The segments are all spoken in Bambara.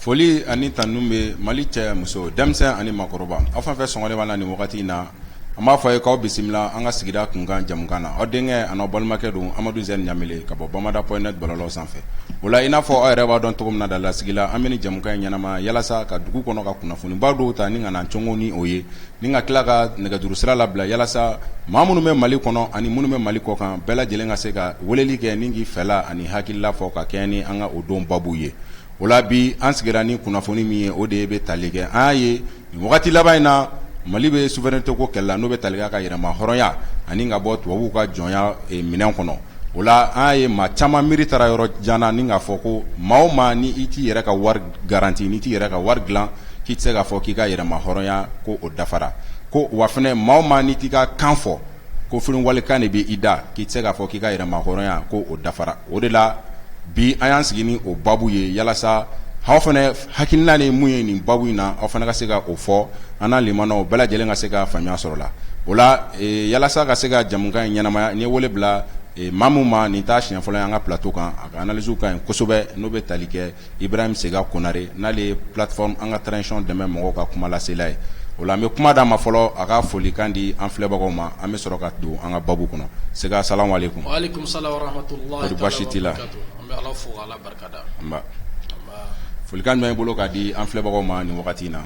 Foli ani tannu bɛ mali cɛ muso denmisɛn ani makɔrɔba aw fɛn fɛn sɔngɔlen b'a la ni wagati in na an b'a fɔ aw ye k'aw bisimila an ka sigida kunkan jamukan na aw denkɛ an'aw balimakɛ don amadu z ɲamele ka bɔ bamada point net bɔlɔlɔw sanfɛ o la i n'a fɔ aw yɛrɛ b'a dɔn cogo min laadalasigi la an bɛ nin jamukan in ɲɛnama yalasa ka dugu kɔnɔ ka kunnafonibaw dɔw ta ni ka na cɔngɔ ni o ye Ni ka tila ka nɛgɛjuru sira labila yalasa maa minnu bɛ mali kɔnɔ ani minnu bɛ mali kɔkan bɛɛ lajɛlen ka se ka weleli kɛ ni k'i fɛla ani hakilila fɔ ka kɛɲɛ ni an ka o don babu ye o la bi an sigira ni kunnafoni min ye o de ye bɛ tali kɛ an y'a ye nin wagati laban in na mali bɛ souveraineté ko kɛlɛ la n'o bɛ tali kɛ ka yɛrɛma hɔrɔnya ani ka bɔ tubabuw ka jɔnya minɛn kɔnɔ o la an y'a ye maa caman miiri taara yɔrɔ jan na ni k'a fɔ ko maa o maa ni i t'i yɛrɛ ka wari garanti n'i t'i yɛrɛ ka wari dilan k'i tɛ se k'a fɔ k'i ka yɛrɛma hɔrɔnya ko o dafara ko wa fana maa o maa n'i t'i ka kan fɔ ko fo walikan de bɛ i da k'i tɛ se k'a fɔ k'i ka yɛrɛma hɔrɔnya ko o dafara o de la bi an y'an sigi ni o baabu ye yalasa aw fana hakilina ni mun ye nin baabu in na aw fana ka se ka o fɔ an n'a lamɛnnaw bɛɛ lajɛlen ka se ka faamuya sɔrɔ la o la yalasa ka se ka jamukan in ɲɛnamaya n ye wele bila maa min ma nin t'a siɲɛ fɔlɔ ye an ka plateau kan a ka analyse ka ɲi kosɛbɛ n'o bɛ tali kɛ I bɛ bɛ se ka konare n'ale ye pffi an ka tcɔn dɛmɛ mɔgɔw ka kumalasila ye o an bɛ kuma d'a ma fɔlɔ a ka foli kan di an filɛbagaw ma an bɛ sɔrɔ ka don an ka baabu kɔnɔ se ka sa wale kun baasi t' la folikan ɲɔgɔn bolo k'a di an filɛbagaw ma ni wagati in na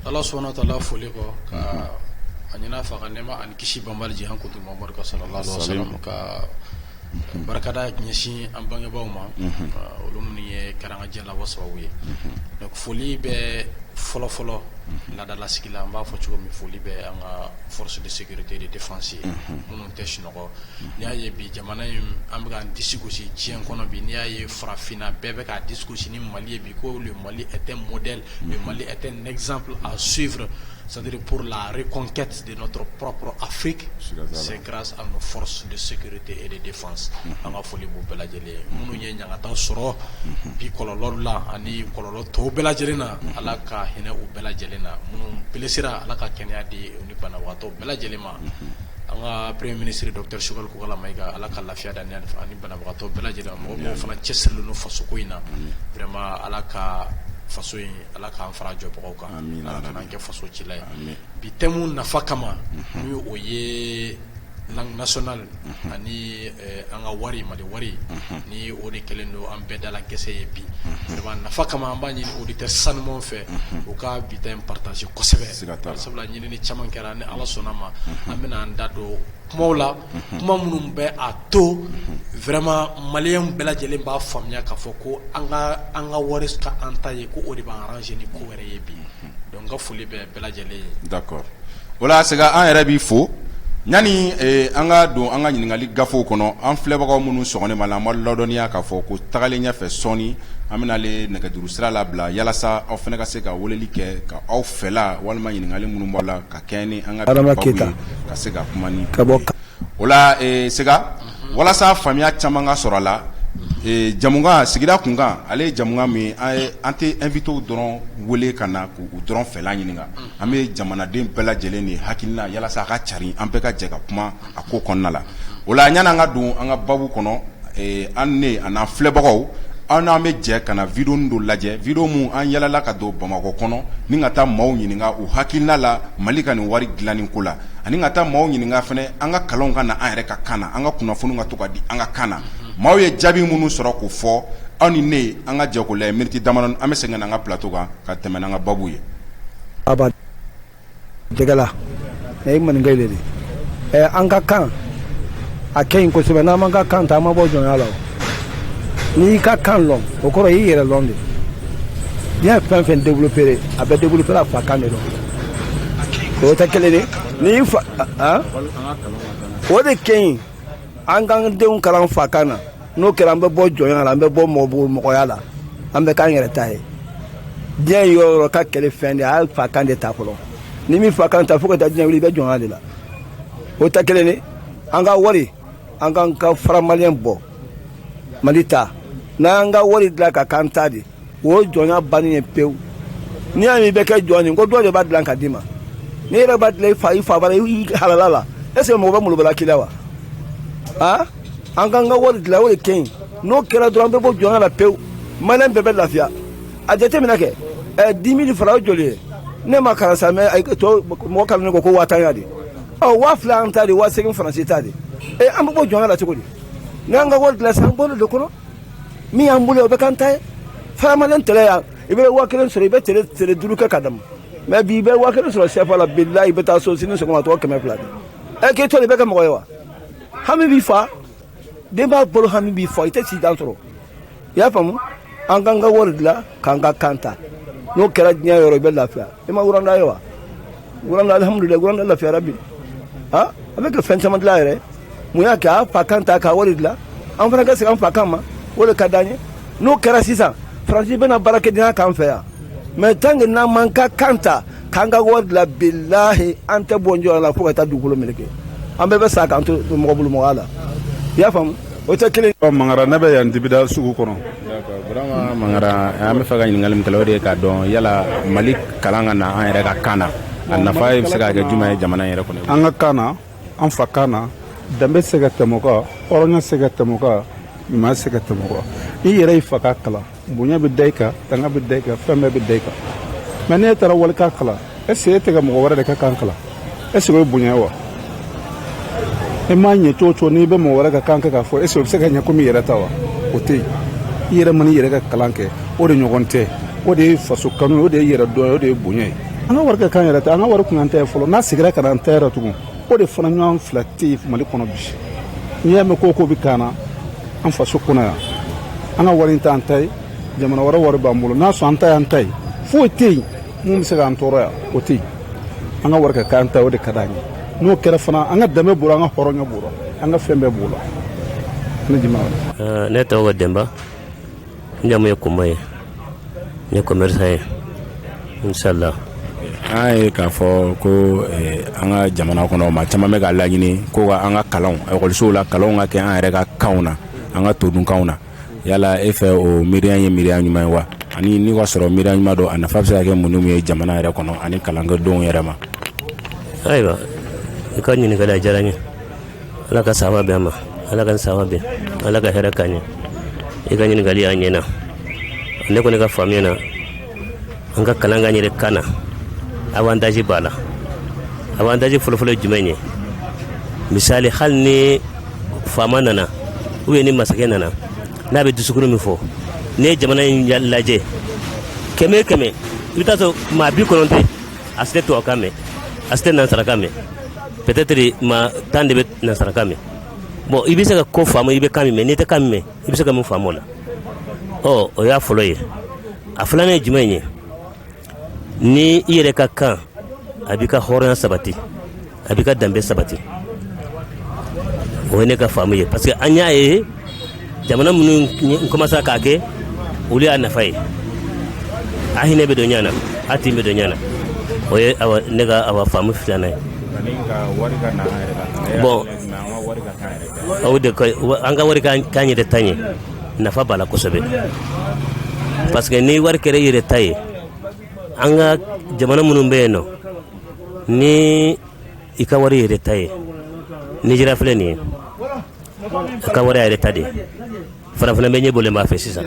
ala sɔnna taa foli kɔ a ɲɛna faga ne ma ani kisi bamanan kotomo Barikada ɲɛsin an bangebaw ma olu minnu ye kɛra an ka diɲɛ labɔ sababu ye donc foli bɛ fɔlɔfɔlɔ laadalasigi la an b'a fɔ cogo min foli bɛ an ka force de sécurité et de défense ye minnu tɛ sunɔgɔ n'i y'a ye bi jamana in an bɛ k'an disi gosi diɲɛ kɔnɔ bi n'i y'a ye farafinna bɛɛ bɛ k'a disi gosi ni mali ye bi ko le mali est un modèle le mali est un exemple à suivre c'est-à-dire pour la reconquête de notre propre afrique c'est grâce à nos forces de sécurité et de défense an ka foli b'u bɛɛ lajɛlen minnu ye ɲangata sɔrɔ bi kɔlɔlɔ la ani kɔlɔlɔ tɔw bɛɛ lajɛlen na ala ka hinɛ u bɛɛ lajɛlen na minnu blesséra ala ka kɛnɛya di u ni banabagatɔ bɛɛ lajɛlen ma an ka premier ministre docteur sogɛli kokala mayiga ala ka lafiya d'a ni banabagatɔ bɛɛ lajɛlen ma mɔgɔ fana cɛsirilen don fasoko in na vraiment ala ka faso in ala k'an fara jɔbagaw kan ala kan'an kɛ faso ci ye bi thème nafa kama ni o ye langue nationale ani an ka wari mali wari ni o de kɛlen don an bɛɛ dala gɛsɛ ye bi nafa kama an b'a ɲini auditeur sanumanw fɛ u ka bi ta in partager kosɛbɛ sabula ɲinini caman kɛra ni ala sɔnna ma an bɛna an da don kumaw la kuma minnu bɛ a to vraiment maliyɛnw bɛɛ lajɛlen b'a faamuya k'a fɔ ko an ka wari ka an ta ye ko o de b'an arranger ni ko wɛrɛ ye bi donc n ka foli bɛ D'accord o la Sega an yɛrɛ b'i fo yanni an ka don an ka ɲininkali gafew kɔnɔ an filɛbagaw minnu sɔgɔlen b'a la an b'a ladɔnniya k'a fɔ ko tagalen ɲɛfɛ sɔɔni an bɛna ale nɛgɛjuru sira labila yalasa aw fana ka se ka weleli kɛ ka aw fɛla walima ɲininkali minnu b'a la ka kɛɲɛ ni an ka baabu ye ka se ka kuma ni o la Sega walasa faamuya caman ka sɔrɔ a la jamukan sigida kunkan ale ye jamukan min an tɛ invitéw dɔrɔn wele ka na k'u dɔrɔn fɛla ɲininka an bɛ jamanaden bɛɛ lajɛlen de hakilina yalasa a ka cari an bɛɛ ka jɛ ka kuma a ko kɔnɔna la o la yanni an ka don an ka baabu kɔnɔ an ni an filɛbagaw an n'an bɛ jɛ ka na vidéonin dɔ lajɛ vidéo min an yalala ka don bamakɔ kɔnɔ ni ka taa maaw ɲininka u hakilina la mali ka nin wari dilanni ko la ani ka taa maaw ɲininka fana an ka kalan ka na an yɛrɛ ka kan na an ka kunnafoniw ka to ka di an ka kan na maaw ye jaabi minnu sɔrɔ k'u fɔ aw ni ne an ka jɛ k'o lajɛ miniti dama an bɛ segin an ka plateau kan ka tɛmɛ n'an ka baabu ye dɛla ye man de an ka kan a kɛ ɲi kosɛbɛ n'an m'an ka kan ta an ma bɔ jɔnya la n'i y'i ka kan lɔn o kɔrɔ i y'i yɛrɛ lɔn de diɲɛ fɛn fɛn développé a bɛ développé fa kan de lɔn o tɛ kelen de ni y'i fa o de kɛ ɲi an k'an denw kalan fa kan na n'o kɛra an bɛ bɔ jɔnya la an bɛ bɔ mɔbugu mɔgɔya la an bɛ k'an yɛrɛ ta ye diɲɛ yɔrɔ yɔrɔ ka kɛlɛ fɛn de a y'a fa kan de ta fɔlɔ n'i m'i fa kan ta fo ka taa diɲɛ wuli i bɛ jɔnya de la o tɛ kelen de an ka wari an k'an ka franc malien bɔ mali ta n'an y'an ka wari dilan ka k'an ta de o jɔnya bannen ye pewu n'i y'a mɛn i bɛ kɛ jɔn ye ko dɔ de b'a dilan ka d'i ma n'i yɛrɛ b'a dilan i fa i fa bara i halala la est ce que mɔgɔ bɛ molobala k'i la wa a an k'an ka wari dilan o de kɛ ɲi n'o kɛra dɔrɔn an bɛ bɔ jɔnya la pewu maliyɛn bɛɛ bɛ lafiya a jateminɛ kɛ ɛ dix mille francs o joli ye ne ma kalan sa mais tɔ mɔgɔ kalannen ko ko waa tan ya de ɔ waa fila an ta de waa segin faransi ta de ee an bɛ bɔ jɔnya la cogo di n'an ka wari dilan sisan an bolo de kɔnɔ min y'an bolo o bɛ k'an ta ye franc malien tele yan i bɛ waa kelen sɔrɔ i bɛ tele tele duuru kɛ k'a damu mais bi i bɛ waa kelen sɔrɔ sɛfa la bilahi i bɛ taa so sini sɔgɔma tɔgɔ kɛmɛ fila de ɛ k'e tɔli bɛ kɛ mɔgɔ ye wa hami b'i fa denbaya bolo hami b'i fa i tɛ si dan sɔrɔ i y'a faamu an k'an ka wari dilan k'an ka kan ta n'o kɛra diɲɛ yɔrɔ i bɛ lafiya i ma Rwanda ye wa wuranda alhamdulila wuranda lafiyara bi ha a bɛ ka fɛn caman dilan yɛrɛ mun y'a kɛ a fa kan ta k'a wari dilan an fana ka segin an fa kan ma o de ka d'an ye n'o kɛra sisan faransi bɛna baarakɛdenya k'an fɛ yan mais tant que n'an m'an ka kan ta k'an ka wari dilan bilahi an tɛ bɔ jɔnya la fo ka taa dugukolo meleke an bɛɛ bɛ sa k'an to mɔgɔ bolo mɔgɔya la i y'a faamu o tɛ kelen ye. mangara ne bɛ yan dibida sugu kɔnɔ mangara an bɛ fɛ ka ɲininkali min kɛ o de ye k'a dɔn yala mali kalan ka na an yɛrɛ ka kan na a nafa ye bɛ se ka kɛ jumɛn ye jamana yɛrɛ kɔnɔ an ka kan na an fa kan na danbe se ka tɛmɛ o kan hɔrɔnya se ka tɛmɛ o kan ɲuman se ka tɛmɛ o kan i yɛrɛ y'i fa kan kalan bonya bɛ da i kan tanga bɛ da i kan fɛn bɛɛ bɛ da i kan mais n'e taara wali kan kalan est-ce que e tɛ ka mɔgɔ wɛrɛ de ka kan kalan est-ce que o ye bonya ye wa e m'a ɲɛ cogo o cogo n'i bɛ mɔgɔ wɛrɛ ka kan kɛ k'a fɔ est-ce que o bɛ se ka ɲɛ komi i yɛrɛ ta wa o tɛ yen i yɛrɛ mana i yɛrɛ ka kalan kɛ o de ɲɔgɔn tɛ o de ye faso kanu ye o de ye yɛrɛ dɔn ye o de ye bonya ye an ka wari ka k'an yɛrɛ ta ye an ka wari kun an ta ye fɔlɔ n'a seginna ka na an ta yɛrɛ tugun o de fana ɲɔgɔn fila tɛ yen mali kɔnɔ bi n'i y'a mɛn ko ko bɛ k'an na an faso kɔnɔ yan an ka wari in t'an ta ye jamana wɛrɛ wari b'an bolo n'a sɔrɔ an ta y'an ta ye foyi tɛ yen mun bɛ se k'an tɔɔrɔ yan o tɛ yen an ka wari ka k'an ta o de ka d'an ye n'o kɛra fana an ka danbe b'o la an ka hɔrɔnya b'o la an ka fɛn bɛɛ b'o la ne jamu eh, ne tɔgɔ denba n jamu ye kuma ye n ye commerçant ye inshallah an ye k'a fɔ ko eh, an ka jamana kɔnɔ maa caman bɛ k'a laɲini ko ka an ka kalanw ekɔlisow la kalanw ka kɛ an yɛrɛ ka kanw na an ka todunkanw na yala e fɛ o miiriya ye miiriya ɲuman ye wa ani n'i k'a sɔrɔ miiriya ɲuman don a nafa bɛ se ka kɛ mun ni mun ye jamana yɛrɛ kɔnɔ ani kalankɛdenw yɛrɛ ma ayiwa i ka ɲininkali a diyara n ye ala ka saba bɛn ma ala ka saba bɛn ala ka hɛrɛ k'an ye i ka ɲininkali a ɲɛna ne kɔni ka faamuya na an ka kalan k'an yɛrɛ kan na avantage b'a la avantage fɔlɔfɔlɔ ye jumɛn ye misali hali ni faama nana ou bien ni masakɛ nana n'a bɛ discours min fɔ n'i ye jamana in lajɛ kɛmɛ kɛmɛ i bɛ taa sɔrɔ maa bi kɔnɔntɔn a si tɛ tubabukan mɛn a si tɛ nansarakan mɛn peut-être maa tan de bɛ nansarakan mɛn bon i bɛ se ka ko faamu i bɛ kan min mɛn n'i tɛ kan min mɛn i bɛ se ka mun faamu o la ɔ o y'a fɔlɔ ye a filanan ye jumɛn ye ni i yɛrɛ ka kan a b'i ka hɔrɔnya sabati a b'i ka danbe sabati o ye ne ka faamu ye parce que an y'a ye jamana minnu commencera k'a kɛ olu y'a nafa ye a hinɛ bɛ don ɲɔgɔn na a tin bɛ don ɲɔgɔn na o ye awa ne ka awa faamu filanan ye bon aw de an ka wari k'an yɛrɛ ta ye nafa b'a la kosɛbɛ parce que ni wari kɛra i yɛrɛ ta ye an ka jamana minnu bɛ yen nɔ ni i ka wari i yɛrɛ ta ye Nigéria filɛ nin ye a ka wari a yɛrɛ ta de farafina bɛɛ ɲɛ bɔlen b'a fɛ sisan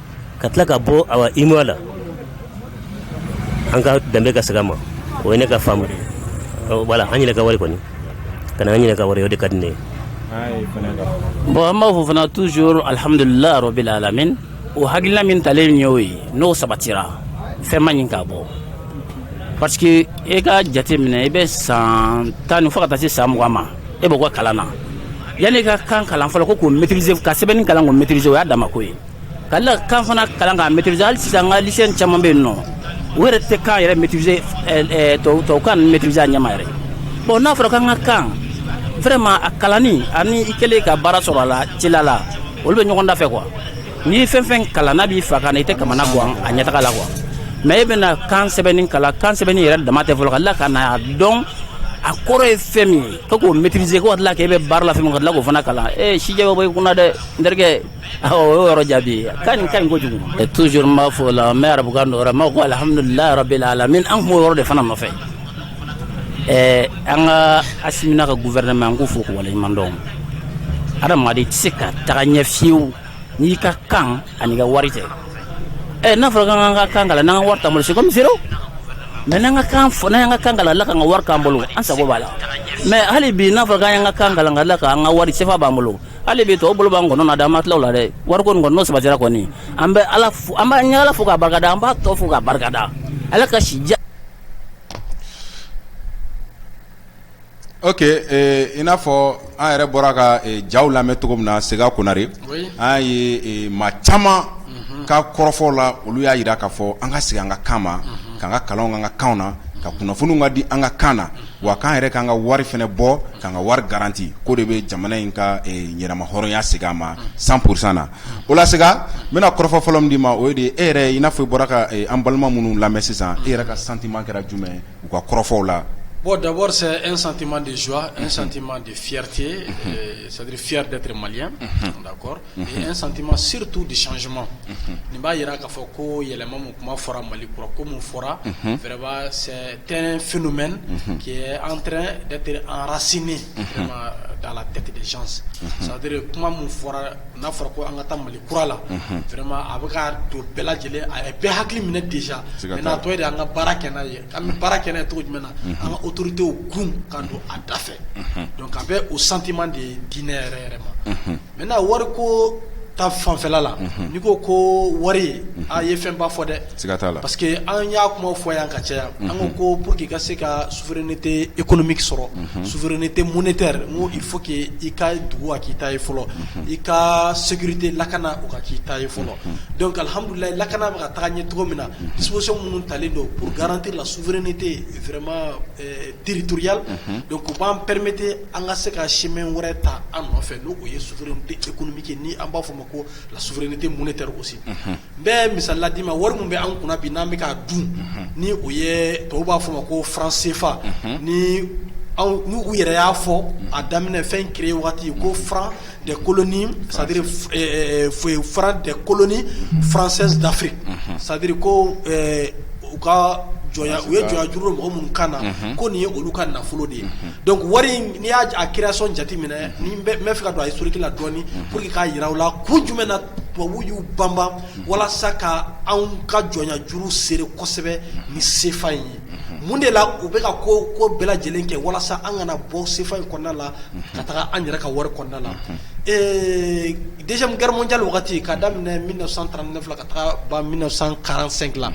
ka tila ka bɔ UEMOA la an ka danbe ka segin an ma o ye ne ka faamu voilà an yɛrɛ ka wari kɔni ka an yɛrɛ ka wari o de ka di ne ye bon an b'a fɔ fana toujours alihamdulilahi rabil alamin o hakilila min talen ye o ye n'o sabatira fɛn man ɲi k'a bɔ parce que e ka jate minɛ i bɛ san tan ni fo ka taa se san mugan ma e bɛ bɔ kalan na yanni e ka kan kalan fɔlɔ ko k'o maîtriser ka sɛbɛnni kalan k'o maîtriser o y'a dama ko ye Ka kan fana kalan k'a maîtriser hali sisan an ka lycéen caman bɛ yen nɔ o yɛrɛ tɛ kan yɛrɛ maîtriser tubabukan ninnu maîtriser a ɲɛ ma yɛrɛ bon n'a fɔra k'an ka kan vraiment a kalanni ani i kɛlen ka baara sɔrɔ a la ci la olu bɛ ɲɔgɔn da fɛ quoi n'i ye fɛn fɛn kalan n'a b'i fa kan i tɛ kamanagan a ɲɛtaa la quoi mais e bɛna kan sɛbɛnni kalan kan sɛbɛnni yɛrɛ dama tɛ fɔlɔ ka tila ka na dɔn a kɔrɔ ye fɛn min ye k'o maîtriser ka tila k'e bɛ baara la fɛn min ka tila k'o fana kalan sijɛ bɛ bɔ i kun na dɛ n O yɔrɔ jaabi ka ɲi kojugu toujours n b'a fɔ la n bɛ arabukan don ma ko alihamdulilahi rabil alamin an tun b'o yɔrɔ de fana nɔfɛ ɛɛ an ka Asimi n'a ka gouvernement an k'u fo k'u waleɲumandɔn adamaden tɛ se ka taga ɲɛ fiyewu n'i ka kan an'i ka wari tɛ ɛ n'a fɔra k'an ka kan kalan n'an ka wari t'an bolo c'est comme zéro mais n'an ka kan fɔ n'an ka kan kalan ka tila k'an ka wari k'an bolo an sago b'a la mais hali bi n'a fɔra k'an ka kan kalan ka tila k'an ka wari sefa b'an bolo hali bi tɔw bolo b'an kɔnɔ na dɛ an ma tila o la dɛ wariko nin kɔni n'o sabatira kɔni an bɛ ala an b'a ɲɛ ala fo k'a barikada an b'a tɔ fo k'a barikada ala ka si oke i n'a fɔ an yɛrɛ bɔra ka jaw lamɛn cogo min na Sega Konare an y'a ye maa caman ka kɔrɔfɔw la olu y'a jira k kaa fɔ an ka segin an ka kan ma k'an ka kalanw k'an ka kanw na ka kunnafoniw ka di an ka kan na wa k'an yɛrɛ k'an ka wari fɛnɛ bɔ k'an ka wari garanti k'o de bɛ jamana in ka yɛrɛmahɔrɔnya segin a ma cent pour cent na o la Sega n bɛna kɔrɔfɔ fɔlɔ min d'i ma o ye de e yɛrɛ i n'a fɔ i bɔra ka an balima minnu lamɛn sisan e yɛrɛ ka sentiment kɛra jumɛn u ka kɔrɔfɔw la bon d'abord c'est un sentiment de joie un sentiment de fierté c'est-à-dire fier d'être malien d'accord N santi ma setu de suma nin b'a jira k'a fɔ ko yɛlɛma min kuma fɔra mali kura ko min fɔra fɛrɛba sɛ tɛ f mɛn k' an date anrasinen da la tɛt saduri kuma min fɔra n'a fɔra ko an ka taa mali kura la fɛrɛma a bɛ ka don bɛɛ lajɛlen a bɛɛ hakili minɛ desa n'a tɔ de an ka baara kɛ n'a ye an bɛ baara kɛnɛ cogo jumɛn na an ka otodenw kun kan don a da fɛ ka bɛ o santiman de ye diinɛ yɛrɛ yɛrɛ ma Maintenant wari ko ta fanfɛla la n'i ko ko wari a ye fɛn ba fɔ dɛ parce que an y'a kuma fɔ yan ka caya yan an ko ko pour qu'i ka se ka souveraineté économique sɔrɔ souveraineté monétaire o il faut que i ka dugu a k'i ta ye fɔlɔ i ka sécurité lakana o ka k'i ta ye fɔlɔ donc alihamudulilayi lakana bɛ ka taa ɲɛ cogo min na disposition minnu talen don pour garantir la souveraineté vraiment territoriale donc o b'an permettre an ka se ka simɛ wɛrɛ ta an nɔfɛ n' o ye s tɛmiki ni an b'a fɔ ma ko la s ni tɛ mun tɛ gosi n bɛ misala la'i ma wari min bɛ an kunna bi n'an bɛ k' dun ni o ye to b'a fɔ ma ko fran senfa ni n' u yɛrɛ y'a fɔ a daminɛ fɛn ke waati ko fara de kolonin sadiri foyi fara de kolonin faransɛ dafe sadiri ko u ka jɔn u ye jɔj mɔgɔ minnu kan na ko nin ye olu ka nafolo de ye Donc wari in n'i y'a a création jateminɛ ni n bɛ fɛ ka don a historique la dɔɔni pour que k'a jira aw la kun jumɛn na tubabuw y'u banban walasa ka anw ka jɔnya juru sere kosɛbɛ ni CFA in ye mun de la u bɛ ka ko bɛɛ lajɛlen kɛ walasa an kana bɔ CFA in kɔnɔna la ka taga an yɛrɛ ka wari kɔnɔna la ee deuxième guerre mondiale wagati k'a daminɛ 1939 la ka taga ban 1945 la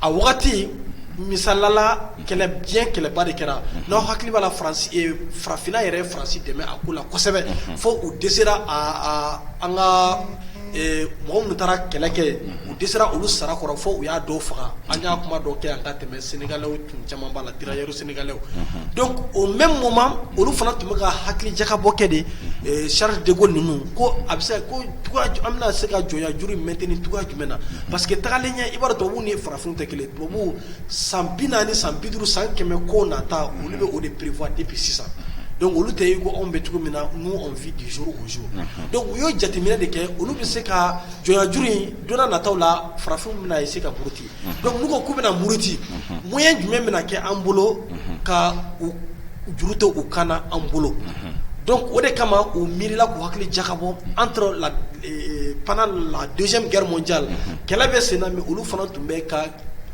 a wagati misalala kɛlɛ diɲɛ kɛlɛba de kɛra n'aw hakili b'a la farafina yɛrɛ ye Faransi dɛmɛ a ko la kosɛbɛ fo u dɛsɛra an ka mɔgɔ minnu taara kɛlɛ kɛ u dɛsɛra olu sara kɔrɔ fo u y'a dɔw faga an y'a kuma dɔw kɛ yan ka tɛmɛ Sénégalais tun caman b'a la tirailleurs sénégalais donc au même moment olu fana tun bɛ ka hakili jakabɔ kɛ de Charles de Gaulle ninnu ko a bɛ se an bɛna se ka jɔnya juru maintenir cogoya jumɛn na parce que tagalen ɲɛ i b'a dɔn tubabu ni farafin tɛ kelen Tubabu san bi naani ni san bi duuru san kɛmɛ ko nata olu bɛ o de prévoir depuis sisan donc olu tɛ i ko anw bɛ cogo min na nous on vit du jour au jour donc u ye jateminɛ de kɛ olu bɛ se ka jɔnya juru in donna nataw la farafinw bɛna essayer ka muruti donc n'u ko k'u bɛna muruti moyen jumɛn bɛna kɛ an bolo ka juru to u kan na an bolo donc o de kama u miirila k'u hakili jakabɔ an la pan la donsoc ja la kɛlɛ bɛ sen min olu fana tun bɛ ka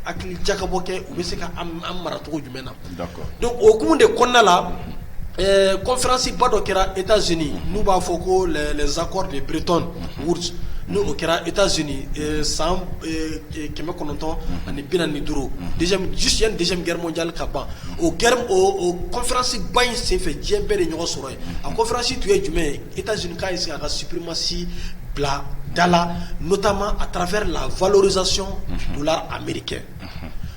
hakili jakabɔ kɛ u bɛ se ka maracogo jumɛn na don okumu de kɔnda la kofasi ba dɔ kɛra e z n'u b'a fɔ ko zsaakɔrɔ de bereerert wu n' o kɛra e z san kɛmɛ kɔnɔntɔn ani bi ni duuru jisic gɛrɛja ka ban o o kɔnfasi ba in senfɛ diɲɛ bɛɛ de ɲɔgɔn sɔrɔ yen a conférence tun ye jumɛn ye États-Unis k'a essayer k'a ka suprématie bila da la notamment à travers la valorisation du dollar américain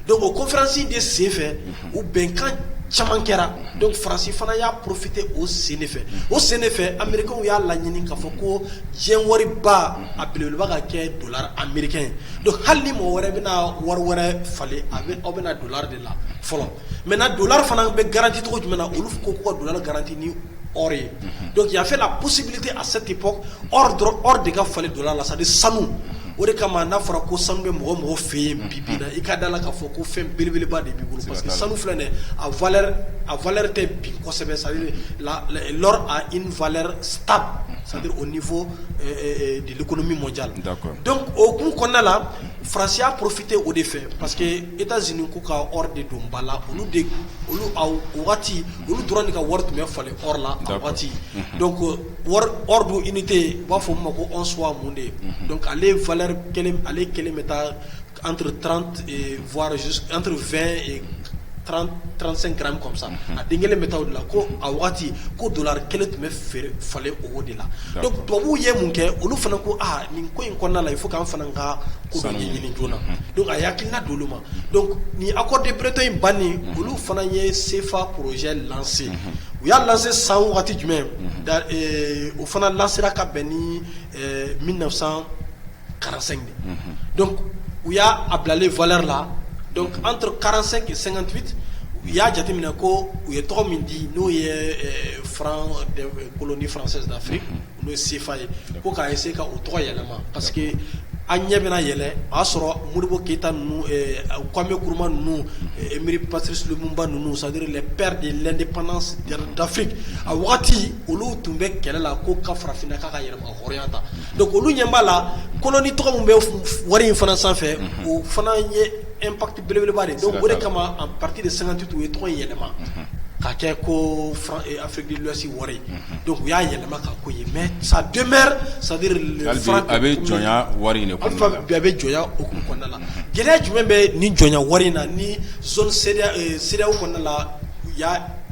donc o conférence de sen fɛ u bɛnkan caman kɛra donc Faransi fana y'a profité o sen de fɛ o sen de fɛ américains y'a laɲini k'a fɔ ko diɲɛ wariba a belebeleba ka kɛ dollar américain ye donc hali ni mɔgɔ wɛrɛ bɛna wari wɛrɛ falen a aw bɛna dollar de la fɔlɔ mɛ na don fana bɛ garanti tɔgɔ jumɛn na olu ko ko don garanti ni ye don yafafela psibi tɛ a sati p dɔrɔn de ka falen don la sa sanu o de kama n'a fɔra ko sanu bɛ mɔgɔ mɔgɔw fɛ yen bi bi i ka da la k'a fɔ ko fɛn belebeleba de b'i bolo parce que sanu filɛ a a vlɛ tɛ bi kɔsɛbɛ sa la vlɛ ta sa o ni fɔ deli kɔnɔ min mɔ ja la dɔnku o kun kɔnɔnada la farasiya porofite o de fɛ parce I ka z ko ka de don ba la olu waati olu tora de ka wari tun bɛ falen la ka waati ko don i ni tɛ yen u b'a fɔ' ma ko s mun de ale ale kelen bɛ taa an transan kɔmisa a den kelen bɛ taa la ko a waati ko don kelen tun bɛ feere falen o de la tubabubuw ye mun kɛ olu fana ko aa nin ko in kɔnɔna la i fo k' fana kan a y'ina don ma ni a ko denpretɔ in ban olu fana ye senfa pze lase u y'a lase san waati jumɛn u fana lasera ka bɛn ni min na san kalanransɛgin u y'a a bilalen v la an tora kalanransɛgin sɛgɛnti u y'a jateminɛ ko u ye tɔgɔ min di n'o ye kolon nifi Olu ye sefa ye ko k'a ye se ka u tɔgɔ yɛlɛma pa que an ɲɛ bɛna yɛlɛ o y'a sɔrɔ moribo keyita kɔnmbe kuruma ninnu miiri pasisba ninnu sari bɛɛ de la ni pan dafe a waati olu tun bɛ kɛlɛ la ko ka farafinna k'a ka yɛlɛmaya ta don olu ɲɛ b'a la kolon ni tɔgɔ bɛ wari in fana sanfɛ o fana ye e Belebeleba de donc o de kama en partir de 58 u ye tɔgɔ in yɛlɛma unhun ka kɛ koo franc ee Afrique de l'Ouest wari unhun donc u y'a yɛlɛma k'a k'o ye mais ça demeure c'est à dire le hali bi a be jɔnya wari in de kɔɔna la hali bi a be jɔnya hukumu kɔɔna la gɛlɛya jumɛn bɛ nin jɔnya wari in na ni zone CEDEA ee CEDEAO kɔɔna la u y'a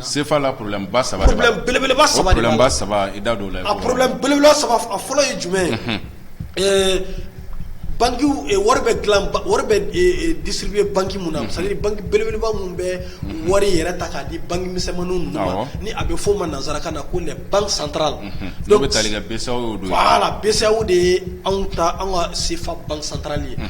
Senfa la pba saba bɛɛeleba sababa saba i da don la aorola saba a fɔlɔ ye jumɛn ye ɛɛ bange wari bɛ disiri bɛ bange minnu na belebeleba minnu bɛ wari yɛrɛ ta k'a di bange misɛnmaniin na ni a bɛ f'o ma nanzsara ka na ko ban santara dɔw bɛ taa sa de ye anw ta an ka senfa ban santarali ye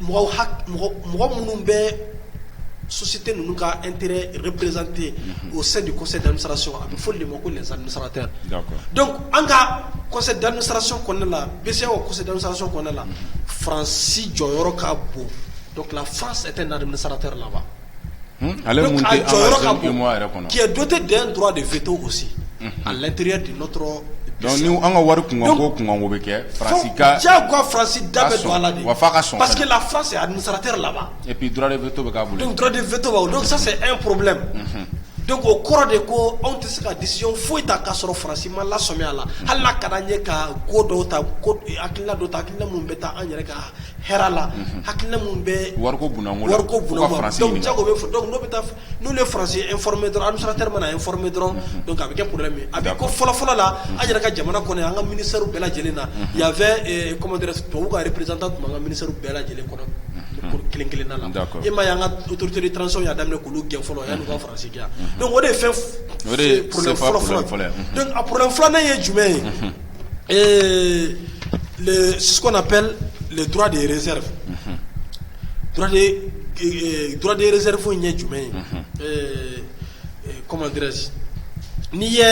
mɔgɔ minnu bɛ sosi tɛ ninnu ka n teri prezte o se de kɔsɔn denmisɛnnin sɔrɔ a bɛ fɔ de ma ko sararatɛ an ka kɔsɔn denmisɛnnin saraso kɔnɛ la bi se osɔndenmisɛnso kɔnɛ la faransi jɔyɔrɔ yɔrɔ ka bon fa tɛ na sararatɛ la wa Ale yɛrɛ do tɛ den dɔrɔn de fi to gosi a latlɛtiri de dɔnku an ka wari kun ko kun bɛ kɛ farasi da don ala wa fa ka sɔn paseke la fase a sara tɛ laban epi to bɛtɔ sa e porobilɛ don ko kɔrɔ de ko anw tɛ se ka disi foyi ta k'a sɔrɔ farasi ma la samiya la hali ka ɲɛ ka ko dɔw ta ko a don ta a minnu bɛ taa an yɛrɛ kan hɛrɛ la hakili minnu bɛ wari bɛ fɔ n'u ye farasi e dɔrɔn dɔrɔn a bɛ kɛ p a bɛ ko fɔlɔ fɔlɔ la an yɛrɛ ka jamana kɔnɔ an ka minisari bɛɛ lajɛlen na yanfɛ ko tubabu ka perez tun an ka miniw bɛɛ lajɛlen kɔnɔ kelen kelen na e ma y'an kaurute tanransɔ y'a daminɛ kulu gɛn fɔlɔ yan ka farasi o de ye fɛn a p filanan ye jumɛn ye Ee le ce qu'on appelle le droit de réserve unhun droit de ke ee droit de réserve in ye jumɛn ye unhun ee ee comment dirais je n'i ye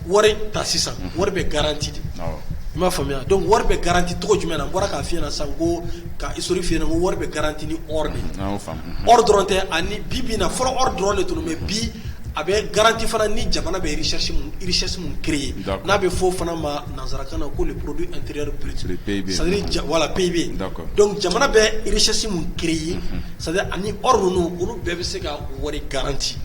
wɔri ta sisan unhun wɔri bɛ garantie de awɔ i m'a faamuya donc wɔri bɛ garantie cogo jumɛn na n bɔra k'a f'i ɲɛna sisan ko ka historique f'i ɲɛna ko wɔri bɛ garantie ni or de ye unhun an y'o faamu unhun or dɔrɔn tɛ ani bi-bi in na fɔlɔ or dɔrɔn de tun don mais bi a bɛ garanti fana ni jamana bɛ richesse min créer n'a bɛ fɔ fana ma nansarakan na ko le produit intérieur brut voilà PIB donc jamana bɛ richesse min créer c'est-à-dire ani or ninnu olu bɛɛ bɛ se ka wari garanti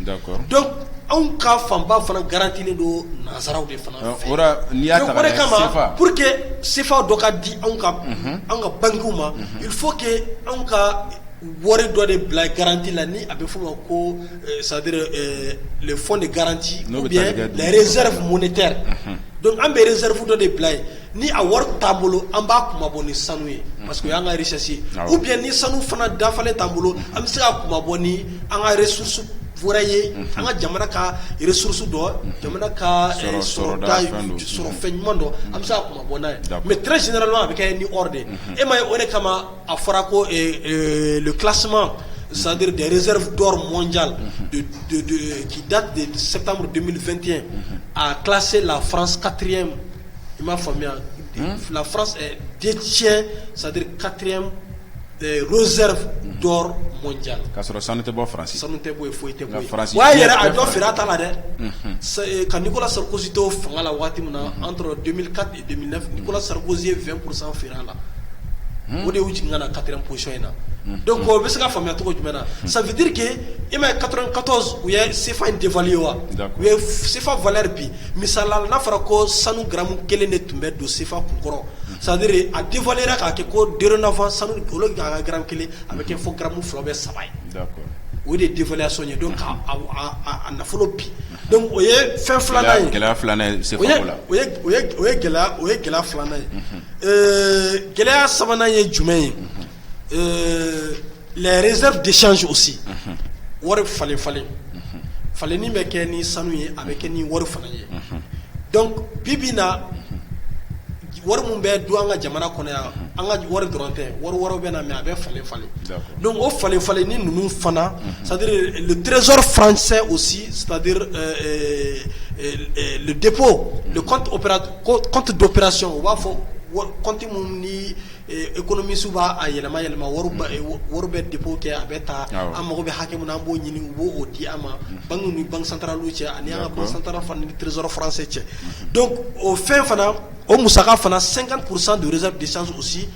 donc anw ka fanba fana garantilen don nansaraw de fana fɛ pour que sefa dɔ ka di anw ka anw ka bankiw ma il faut que anw ka wari dɔ de bila garanti la ni a bɛ fɔ ma ko Sadiri le fɔ de garanti n'o bɛ zerifu mun tɛ dɔnku an bɛ zerifu dɔ de bila ye ni a wari t'a bolo an b'a kuma bɔ ni sanu ye parce que y' ka sisi u bi ni sanu fana dafa t'an bolo an bɛ se ka kuma bɔ ni an ka susu fura ye an ka jamana ka susu dɔ jamana ka sɔrɔ fɛn ɲuman dɔn an bɛ se kuma bɔ n'a ye mɛ tsi a bɛ kɛ ni de e ma ye o de kama A fɔra ko kilasi sadiri dezeridu mɔn ja k'i da sɛbɛnmudfɛnti a kilase laranskatire i m'a faamuya den tiɲɛ sadiri kati zeri mɔn ja ka sɔrɔ sanu tɛ bɔ sanu tɛ bɔ foyi tɛ a yɛrɛ a jɔ feere ta la dɛ ka ko sɔrɔ kositɔ fanga la waati min na an tora Nicolas Sarkozy ye 20 pourcent feere a la, unhun, o de y'u jigin ka na 4 ème position in na, unhun, donc o bɛ se ka faamuya cogo jumɛn na ça veut dire que i m'a ye 94 u ye CFA in dévaluer wa, d'accord, u ye CFA valeur bin misali la n'a fɔra ko sanu gramme kelen de tun bɛ don CFA kunkɔrɔ c'est à dire a dévaluer la k'a kɛ ko dorénavant sanu au lieu que a ka gramme kelen a bɛ kɛ fo gramme fila ou bien saba ye O de ye dévaluation ye donc a nafolo bin donc o ye fɛn filanan ye gɛlɛya filanan ye CFA ko la o ye gɛlɛya filanan ye ɛɛ gɛlɛya sabanan ye jumɛn ye les réserves de change aussi wari falen falen falen min bɛ kɛ ni sanu ye a bɛ kɛ ni wari fana ye donc bi bi na wari min bɛ don an ka jamana kɔnɔ yan an ka wari dɔrɔn tɛ wari wɛrɛ bɛ na mɛ a bɛ falen falen don o falen falen ni ninnu fana trezsɔrɔ faransɛ o si depo kɔnte dɔ psiɔn u b'a fɔ kɔnte minnu ni E kɔnɔ misi b'a yɛlɛma yɛlɛma wari bɛ de kɛ a bɛ taa an mago bɛ hakɛ min an b'o ɲini u b'o di an ma bange ni bansantara cɛ ani an kasansara tiriɔrɔse cɛ don o fɛn fana o musa fana san ka kurusan desa desisansi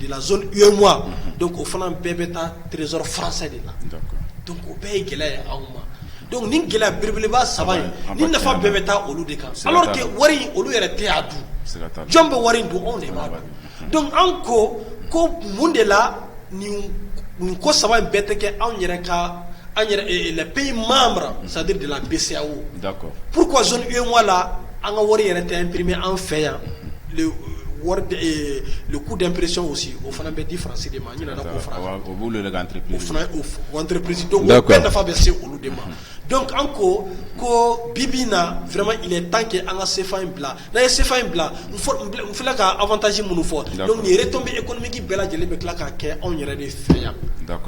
delawa don o fana bɛɛ bɛ taa tzsɔrɔ faransɛ de la don o bɛɛ ye gɛlɛya ye anw ma Dɔnku ni gɛlɛya bbelebba saba ye ni nafa bɛɛ bɛ taa olu de kan wari olu yɛrɛ tɛ' dun jɔn bɛ wari don anw de b'a dɔn anw ko ko mun de la nin ko saba in bɛɛ tɛ kɛ anw yɛrɛ ka an layi maa mara sadi de la bɛ se o pur la an ka wari yɛrɛ tɛ pererime an fɛ yan ku dɛsɛperesi o fana bɛ di fara de ma nafa bɛ se olu de ma an ko ko bi bɛ na tan kɛ an ka sefa in bila n'a ye sefa in bila k'atasi minnu fɔ bɛ e kolonmiki bɛɛ lajɛlen bɛ tila ka kɛ anw yɛrɛ de fɛ yan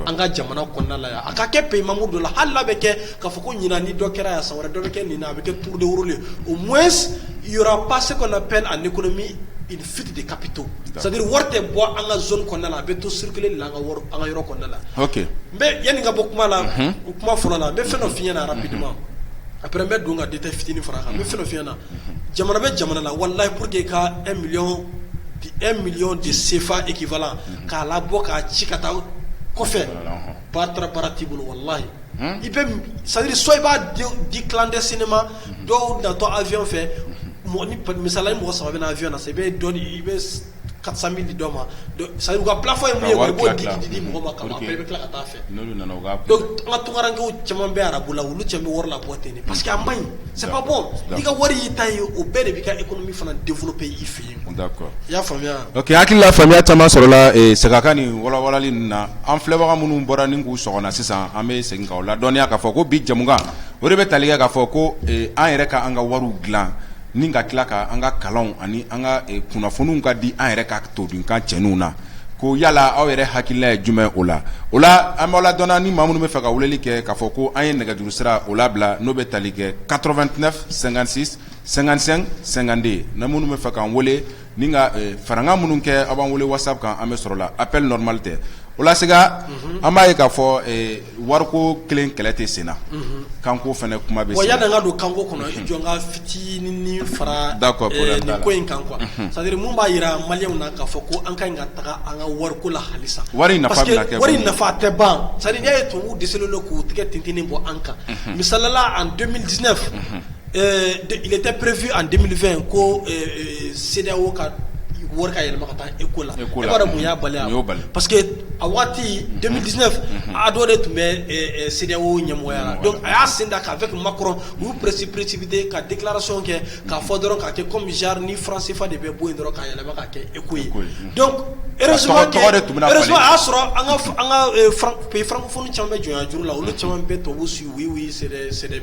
an ka jamana kɔnɔna la yan a ka kɛ pemamu don la hali bɛ kɛ ka fɔ ko ɲin ni dɔ kɛra yan sa wɛrɛ dɔ bɛ kɛ nin a bɛ kɛ tuurudeurulen o mɔ yɔrɔ pase kɔnɔ pe ani kolomi fuite de capitaux c'est-à-dire wari tɛ bɔ an ka zone kɔnɔna la a bɛ to circuler la an ka an ka yɔrɔ kɔnɔna la mais yanni ka bɔ kuma la o kuma fɔlɔ la n bɛ fɛn dɔ f'i ɲɛna rapidement après n bɛ don ka détail fitinin fara kan n bɛ fɛn dɔ f'i ɲɛna jamana bɛ jamana la walahi pour que ka un million un million de CFA équivalent k'a labɔ k'a ci ka taa kɔfɛ Ba taara baara t'i bolo walahi i bɛ sadiri so i b'a di tilanden sini ma dɔw datɔ awy fɛ misala mɔgɔ saba bɛ awy na i bɛ dɔn i bɛ karisa min di dɔ ma sa ka bilafɔ ye i b'o di di di mɔgɔ ma ka i bɛ tila ka taa fɛ ka tunkarakarankɛ caman bɛ ara bolo la olu cɛ bɛ wari la ten nin pa parce que a ma ɲi sababɔ i ka wari y'i ta ye o bɛɛ de bɛ ka e kɔnɔ min fana denforo pe y'i fɛ yen hakili la faamuya caman sɔrɔla Sega ka nin walawalali ninnu na an filɛbaga minnu bɔra ni k'u sɔgɔ na sisan an bɛ segin k'aw ladɔnniya k'a fɔ ko bi jamukan o de bɛ tali kɛ k'a fɔ ko an yɛrɛ ka an ka wariw dilan ni ka tila ka an ka kalanw ani an ka kunnafoniw ka di an yɛrɛ ka todunkan cɛɲiw na ko yala aw yɛrɛ hakilila ye jumɛn o la o la an b'aw ladɔnniya ni maa minnu bɛ fɛ ka weleli kɛ k'a fɔ ko an ye nɛgɛjuru sira o labila n'o bɛ tali kɛ 89 56 55 52 ni minnu bɛ fɛ k'an wele ni ka farankan minnu kɛ aw b'an wele WhatsApp kan an bɛ sɔrɔ la appel normal tɛ o la Sega an b'a ye k'a fɔ wariko kelen kɛlɛ tɛ senna kanko fana kuma bɛ yanni an ka don kanko kɔnɔ i jɔ n ka fitinin fara nin ko in kan quoi c'est-à-dire mun b'a jira maliyɛnw na k'a fɔ ko an ka ɲi ka taga an ka wariko la halisa wari wari nafa tɛ ban c'est-à-dire n'i y'a ye tubabuw dɛsɛlen don k'u tɛgɛ tintinnin bɔ an kan misali la en 2019 tɛ perefi an denmisɛnninmi ko se o ka wari ka yɛlɛma ka taa e ko la y'a bali pa que a waati denmisɛnmid ne a dɔ de tun bɛ se o ɲɛmɔgɔya a y'a sen ta k'a fɛ tun ma kɔrɔ u presi peresibite ka dilarasɔn kɛ k'a fɔ dɔrɔn k'a kɛ kɔmiri ni fararansifa de bɛ bɔ yen dɔrɔn ka yɛlɛma ka kɛ e ko ye y'a sɔrɔ an ka kunnafoni caman bɛ jɔn juru la olu caman bɛ to su ye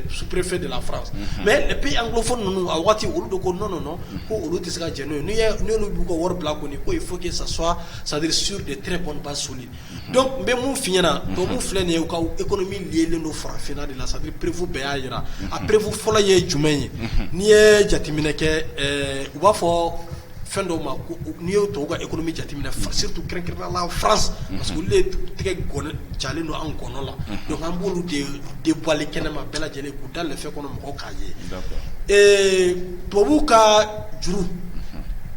superefe de fara mɛ bi an kofɔ ninnu a waati olu don ko n nɔ ko olu tɛ se ka jɛnɛ n'' b'u ka wari bila ko ko ye fo sa swa saduri su de tɛ bɔba soli dɔnku n bɛ mun fiyɲɛna dɔw filɛ nin ye u ka e kɔni min yelen don farafinna de la sa perefu bɛɛ y'a jira a perefu fɔlɔ ye jumɛn ye n'i ye jateminɛ kɛ u b'a fɔ fɛn dɔw ma n'i ye tubabu ka économie jateminɛ surtout kɛrɛnkɛrɛnnenya la France parce que olu de tɛgɛ jalen don an gɔnɔ la donc an b'olu de dévoiler kɛnɛ ma bɛɛ lajɛlen k'u da lɛfɛ kɔnɔ mɔgɔw k'a ye tubabu ka juru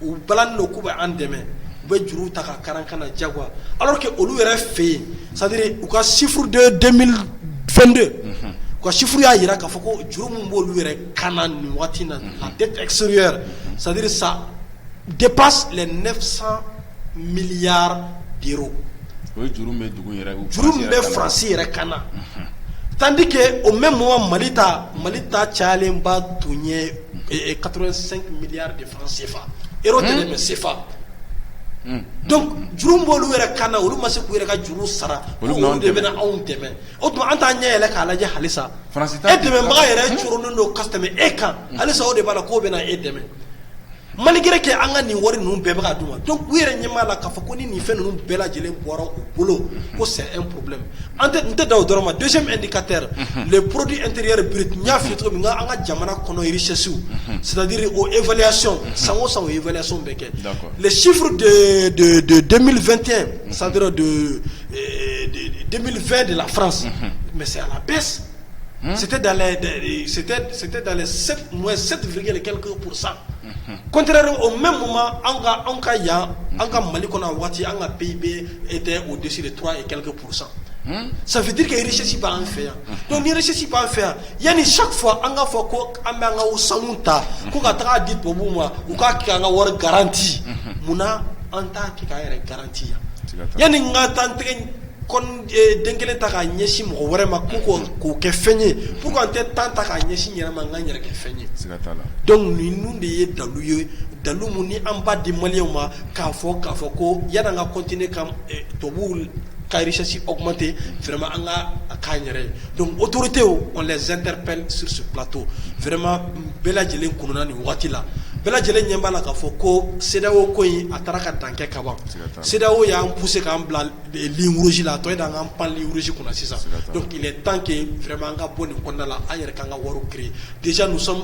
u balalen don k'u bɛ an dɛmɛ u bɛ juru ta ka kar'an kan na jagoya alors que olu yɛrɛ fɛ yen c'est-à-dire u ka chiffre de 2022 u ka chiffre y'a jira k'a fɔ ko juru min b'olu yɛrɛ ka na nin waati na a tɛ tɛsɛ sadiri sa de ba la ne san miyanra bi o ye juru bɛ dugu yɛrɛ juru min bɛ farasi yɛrɛ kan na tandike o bɛ mɔgɔ mali ta mali ta cayalenba tun ye ka sen miya de fana senfa e tɛ de bɛ senfa juru' olu yɛrɛ kan na olu ma se k'u yɛrɛ ka juru sara olu de bɛ anw dɛmɛ O tuma an t'an ɲɛ yɛlɛ k'a lajɛ halisa e dɛmɛbaga yɛrɛ cogolen don ka tɛmɛ e kan halisa o de b'a la k'o bɛna e dɛmɛ malikɛre kɛ an ka nin wari ninnu bɛɛ bɛka dun ma don u yɛrɛ ɲɛ'a la k'a fɔ ko ni nin fɛn ninnu bɛɛ lajɛlen bɔra u bolo ko sɛ e porobi an tɛ n tɛ da dɔrɔn ma donso di ka tɛ le porodi e teri yɛrɛ biri n y'a fi cogo min an ka jamana kɔnɔsɛsiw sadi o eya sɔn san san eɛlɛya sɔn bɛɛ kɛ sifuru de denmisɛn2 tɛ san don 2020 de la France mais c'est à la baisse c'était dans les c'était c'était dans les 7 moins 7 virgule quelques pour cent contrairement au même moment an ka anw ka yan an ka Mali kɔnɔ a waati an ka PIB était au-dessus de 3 et quelques pour cent ça veut dire que richesse b'an fɛ yan donc ni richesse b'an fɛ yan yanni chaque fois an k'a fɔ ko an bɛ an ka sanu ta ko ka taga di tubabuw ma u k'a kɛ an ka wari garanti munna an t'a kɛ k'an yɛrɛ garanti yanni an ka temps den kelen ta k'a ɲɛsin mɔgɔ wɛrɛ ma ko k'o kɛ fɛn ye pourquoi an tɛ temps ta k'a ɲɛsin an yɛrɛ ma an k'an yɛrɛ kɛ fɛn ye donc ninnu de ye dalu ye dalu minnu an b'a di maliyɛnw ma k'a fɔ k'a fɔ ko yanni an ka continuer ka tubabuw ka richesse augmenter vraiment an ka a k'an yɛrɛ ye donc autorités on les interpelle sur ce plateau vraiment bɛɛ lajɛlen kununna nin waati la, bɛɛ lajɛlen ɲɛ b'a la k'a fɔ ko CEDEAO ko in a taara ka dan kɛ ka ban, CEDEAO y'an pousser k'an bila ligne rouge la a tɔ ye de an k'an pan ligne rouge kunna sisan, donc il est temps que vraiment an ka bɔ nin kɔnɔna na, an yɛrɛ k'an ka wariw créer, déjà nous sommes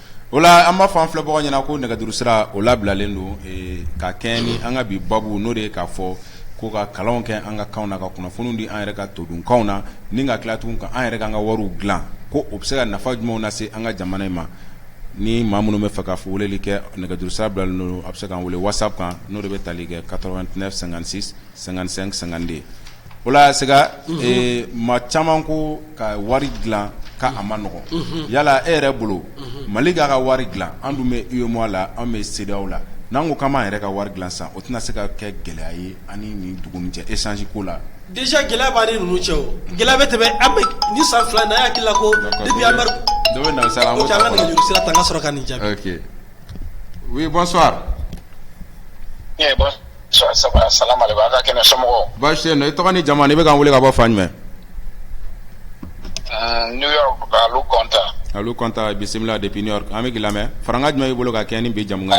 O la an b'a fɔ an filɛbagaw ɲɛna ko nɛgɛjuru sira o labilalen don ka kɛɲɛ ni an ka bi babu n'o de ye k'a fɔ ko ka kalanw kɛ an ka kanw na ka kunnafoniw di an yɛrɛ ka todunkanw na ni ka tila tugun ka an yɛrɛ k'an ka wari dilan ko o bɛ se ka nafa jumɛnw lase an ka jamana in ma ni maa minnu bɛ fɛ ka weleli kɛ nɛgɛjuru sira bilalen don a bɛ se k'an wele whatsapp kan n'o de bɛ tali kɛ 89 56 55 52 O la Sega maa caman ko ka wari dilan ka a man nɔgɔn yala e yɛrɛ bolo mali k'a ka wari dilan an dun bɛ UEMOA la an bɛ CEDEAO la n'an ko k'an b'an yɛrɛ ka wari dilan san o tɛna se ka kɛ gɛlɛya ye ani ni dugu ni cɛ échange ko la déjà gɛlɛya b'an ni ninnu cɛ gɛlɛya bɛ tɛmɛ an ni san fila n'a hakili la ko sɔrɔ ka nin jaabi oui bonsoir Baasi tɛ yen i tɔgɔ ni jamu i bɛ k'an wele ka bɔ fan jumɛn Konta bisimila depuis New York an b'i lamɛn farankan jumɛn b'i bolo ka kɛ ni bi jamukan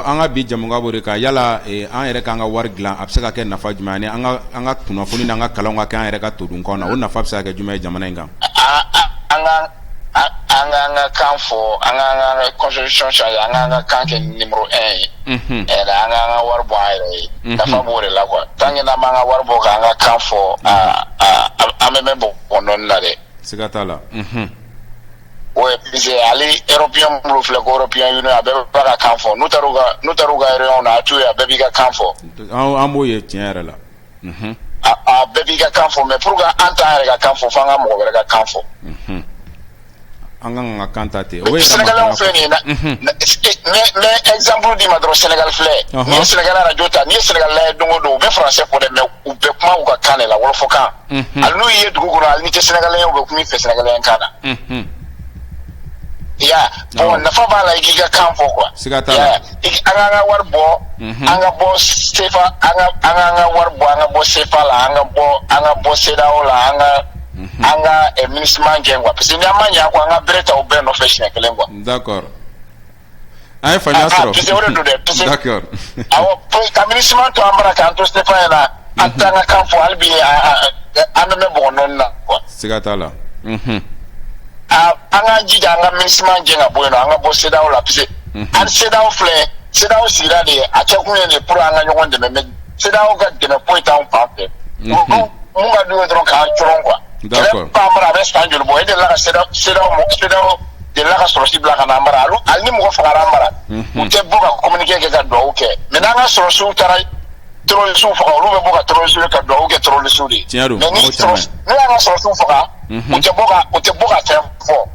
an ka bi jamukan b'o de kan yala an yɛrɛ ka an ka wari dilan a bɛ se ka kɛ nafa jumɛn ani an ka kunnafoni n'an ka kalan ka kɛ an yɛrɛ ka todunkan na o nafa bɛ se ka kɛ jumɛn ye jamana in kan an ka an ka kan fɔ an ka an ka constitution changer an ka an ka kan kɛ numéro 1 ye unhun ɛɛ an ka an ka wari bɔ an yɛrɛ ye Mhm. nafa b'o de la quoi tant que n'an m'an ka wari bɔ k'an ka kan fɔ aa aa an- an bɛ mɛn bɔgɔ nɔni na dɛ siga t'a la Mhm. ouais parce que hali européen minnu filɛ ko européen union a bɛɛ b'a ka kan fɔ n'u taar'u ka n'u taar'u ka réunion na a t'u ye a bɛɛ b'i ka kan fɔ an an b'o ye tiɲɛ yɛrɛ la bɛɛ b'i ka kan fɔ mɛ p an ta yɛrɛ ka kan fɔ fo an ka mɔgɔ wɛrɛ ka kan fɔ an ka kan ta ten o sina fɛn nin na mɛzsan di ma dɔrɔn sɛnɛga filɛ ni sɛnɛga jo ta ni sɛnɛga don don u bɛ fara se ko dɛ mɛ u bɛɛ kuma u ka kan de la fɔ kan ani n'u ye dugu kɔnɔ ani tɛ sɛnɛga u bɛ kun fɛ sɛnɛga kan na i y'a nafa b'a la i k'i ka kan fɔ kuwa an ka an ka wari bɔ unhun an ka bɔ sefa an ka an ka an ka wari bɔ an ka bɔ sefa la an ka bɔ an ka bɔ CEDEAO la an ka an ka eh, MINUSMA gɛn quoi parce que ni an ma ɲɛ a kɔ an ka bere ta u bɛɛ nɔfɛ siɲɛ kelen quoi d'accord an ye faamuya Ah, ah, sɔrɔ parce que o de don dɛ, parce que- d'accord awɔ pour ka MINUSMA to an bara k'an to sefa yɛrɛ la an t'an ka kan fɔ hali bi a- a- a- an bɛ mɛn bɔgɔ nɔni na quoi siga t'a la unhun Ah, an k'an jija an ka MINUSMA gɛn ka bɔ yen nɔ an ka bɔ CEDEAO la parce que an CEDEAO filɛ CEDEAO sigira de ye a kɛ kun ye de pour an ka ɲɔgɔn dɛmɛ mais CEDEAO ka dɛmɛ foyi t'an fan fɛ min ka d'u ye dɔrɔn k'an cɔrɔn quoi a bɛ san joli bɔ e delila ka CEDEAO delila ka sɔrɔsi bila ka n'an bara hali ni mɔgɔ fagara an bara u tɛ bɔ ka communiqué kɛ ka dugawu kɛ mais n'an ka sɔrɔsiw taara tɛrɔrisiw faga olu bɛ bɔ ka tɛrɔrisiw ka dugawu kɛ tɛrɔrisiw de ye mais n'u y'an ka sɔrɔsiw faga u tɛ bɔ ka fɛn fɔ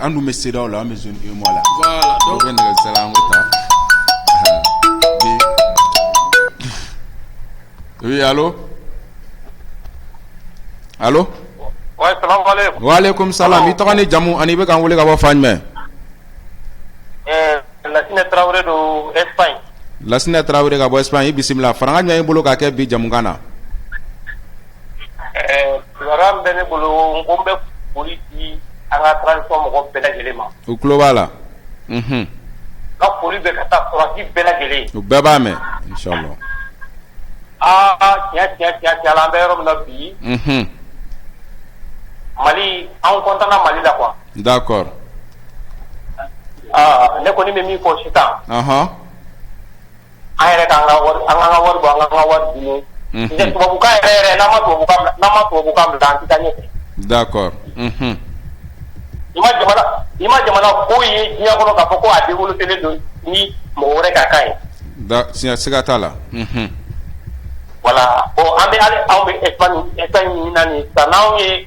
An dun bɛ CEDEAO la an bɛ zone UEMOA la donc an bɛ nɛgɛjuru ta oui allô wa alaikum salam i tɔgɔ ni jamu ani i bɛ k'an wele ka bɔ fan jumɛn Lasinɛ Tarawele don Lasinɛ Tarawele ka bɔ Espagne i bisimila farankan jumɛn i bolo ka kɛ bi jamukan na Kibaruya bɛ ne bolo n ko n bɛ foli di an ka transition mɔgɔ bɛɛ lajɛlen ma, u tulo b'a la, unhun, n ka foli bɛ ka taa sɔrɔdasi bɛɛ lajɛlen, u bɛɛ b'a mɛn inshallah, aa tiɲɛ tiɲɛ tiɲɛ la an bɛ yɔrɔ min na bi, unhun, Mali an content na Mali la quoi, d'accord aa ne kɔni bɛ min fɔ sisan, ɔnhɔn an yɛrɛ ka an ka wari an ka an ka wari bɔ an ka an ka wari dun unhun tɛ tubabukan yɛrɛ yɛrɛ n'an ma tubabukan bila n'an ma tubabukan bila an tɛ taa ɲɛfɛ d'accord unhun i ma jamana i ma jamana ko ye diɲɛ kɔnɔ k'a fɔ ko a développélen don ni mɔgɔ wɛrɛ ka kan ye da siga siga t'a la unhun voilà bon an bɛ hali anw bɛ Espagne Espagne min na nin ye sisan n'anw ye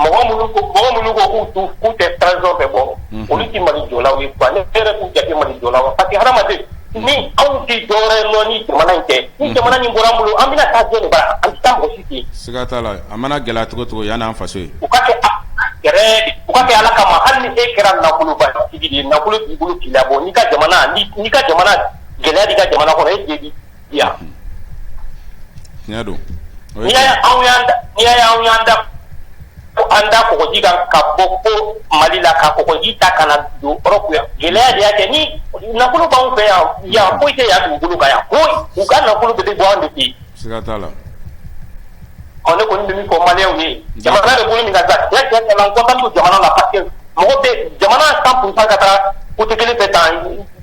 Mɔgɔ minnu ko k'u tɛ transition fɛ bon olu tɛ Mali jɔlaw ye quoi ne yɛrɛ t'u jate Mali jɔlaw ye parce que hadamaden ni anw tɛ dɔwɛrɛ lɔn ni jamana in tɛ ni jamana in bɔra an bolo an bɛna taa jɔn de bara an tɛ taa mɔgɔ si ten siga t'a la a mana gɛlɛya cogo cogo yan n'an faso ye u ka kɛ u ka kɛ Ala kama hali ni e kɛra nafolobatigi ye nafolo b'i bolo k'i labɔ n'i ka jamana n'i ka jamana gɛlɛya b'i ka jamana kɔnɔ e yan tiɲɛ don n'i y'a ye anw y'an da n'i y'a ye anw y'an da ko an da kɔgɔji kan ka bɔ ko Mali la ka kɔgɔji ta ka na don Europe yan gɛlɛya de y'a kɛ ni nafolo b'anw fɛ yan yan foyi tɛ yan dugukolo kan yan foyi u ka nafolo bɛ bɔ anw de fɛ yen siga t'a la ɔ ne kɔni bɛ min fɔ maliyɛnw ye jamana bɛ bolo min kan sa tiɲɛ tiɲɛ tiɲɛ la n content don jamana la parce que mɔgɔ bɛ jamana cent pour cent ka taa côté kelen fɛ tan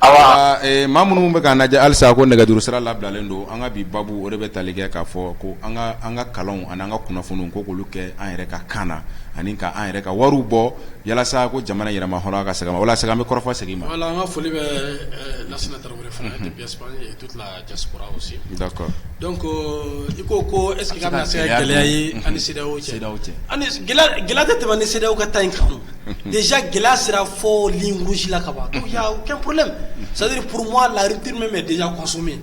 Ma minnu bɛ k'an lajɛ halisa a ko nɛgɛjuru sira labilalen don an ka bi babu o de bɛ tali kɛ k'a fɔ ko an ka kalanw ani an ka kunnafoniw ko k'olu kɛ an yɛrɛ ka kan na ani ka an yɛrɛ ka wariw bɔ yalasa ko jamana yɛrɛmahɔrɔnya ka segin a ma walasa an bɛ kɔrɔfɔ segin ma an ka foli bɛ diaspora aussi d'accord donc euh, i ko ko est ce que ka bɛna se ka gɛlɛya ye an ni CEDEAO cɛ ani gɛlɛya tɛ tɛmɛ an ni CEDEAO ka ta in kan déjà gɛlɛya sera fo ligne rouge la ka ban donc il y a aucun problème c'est à dire pour moi la rupture même est déjà consommée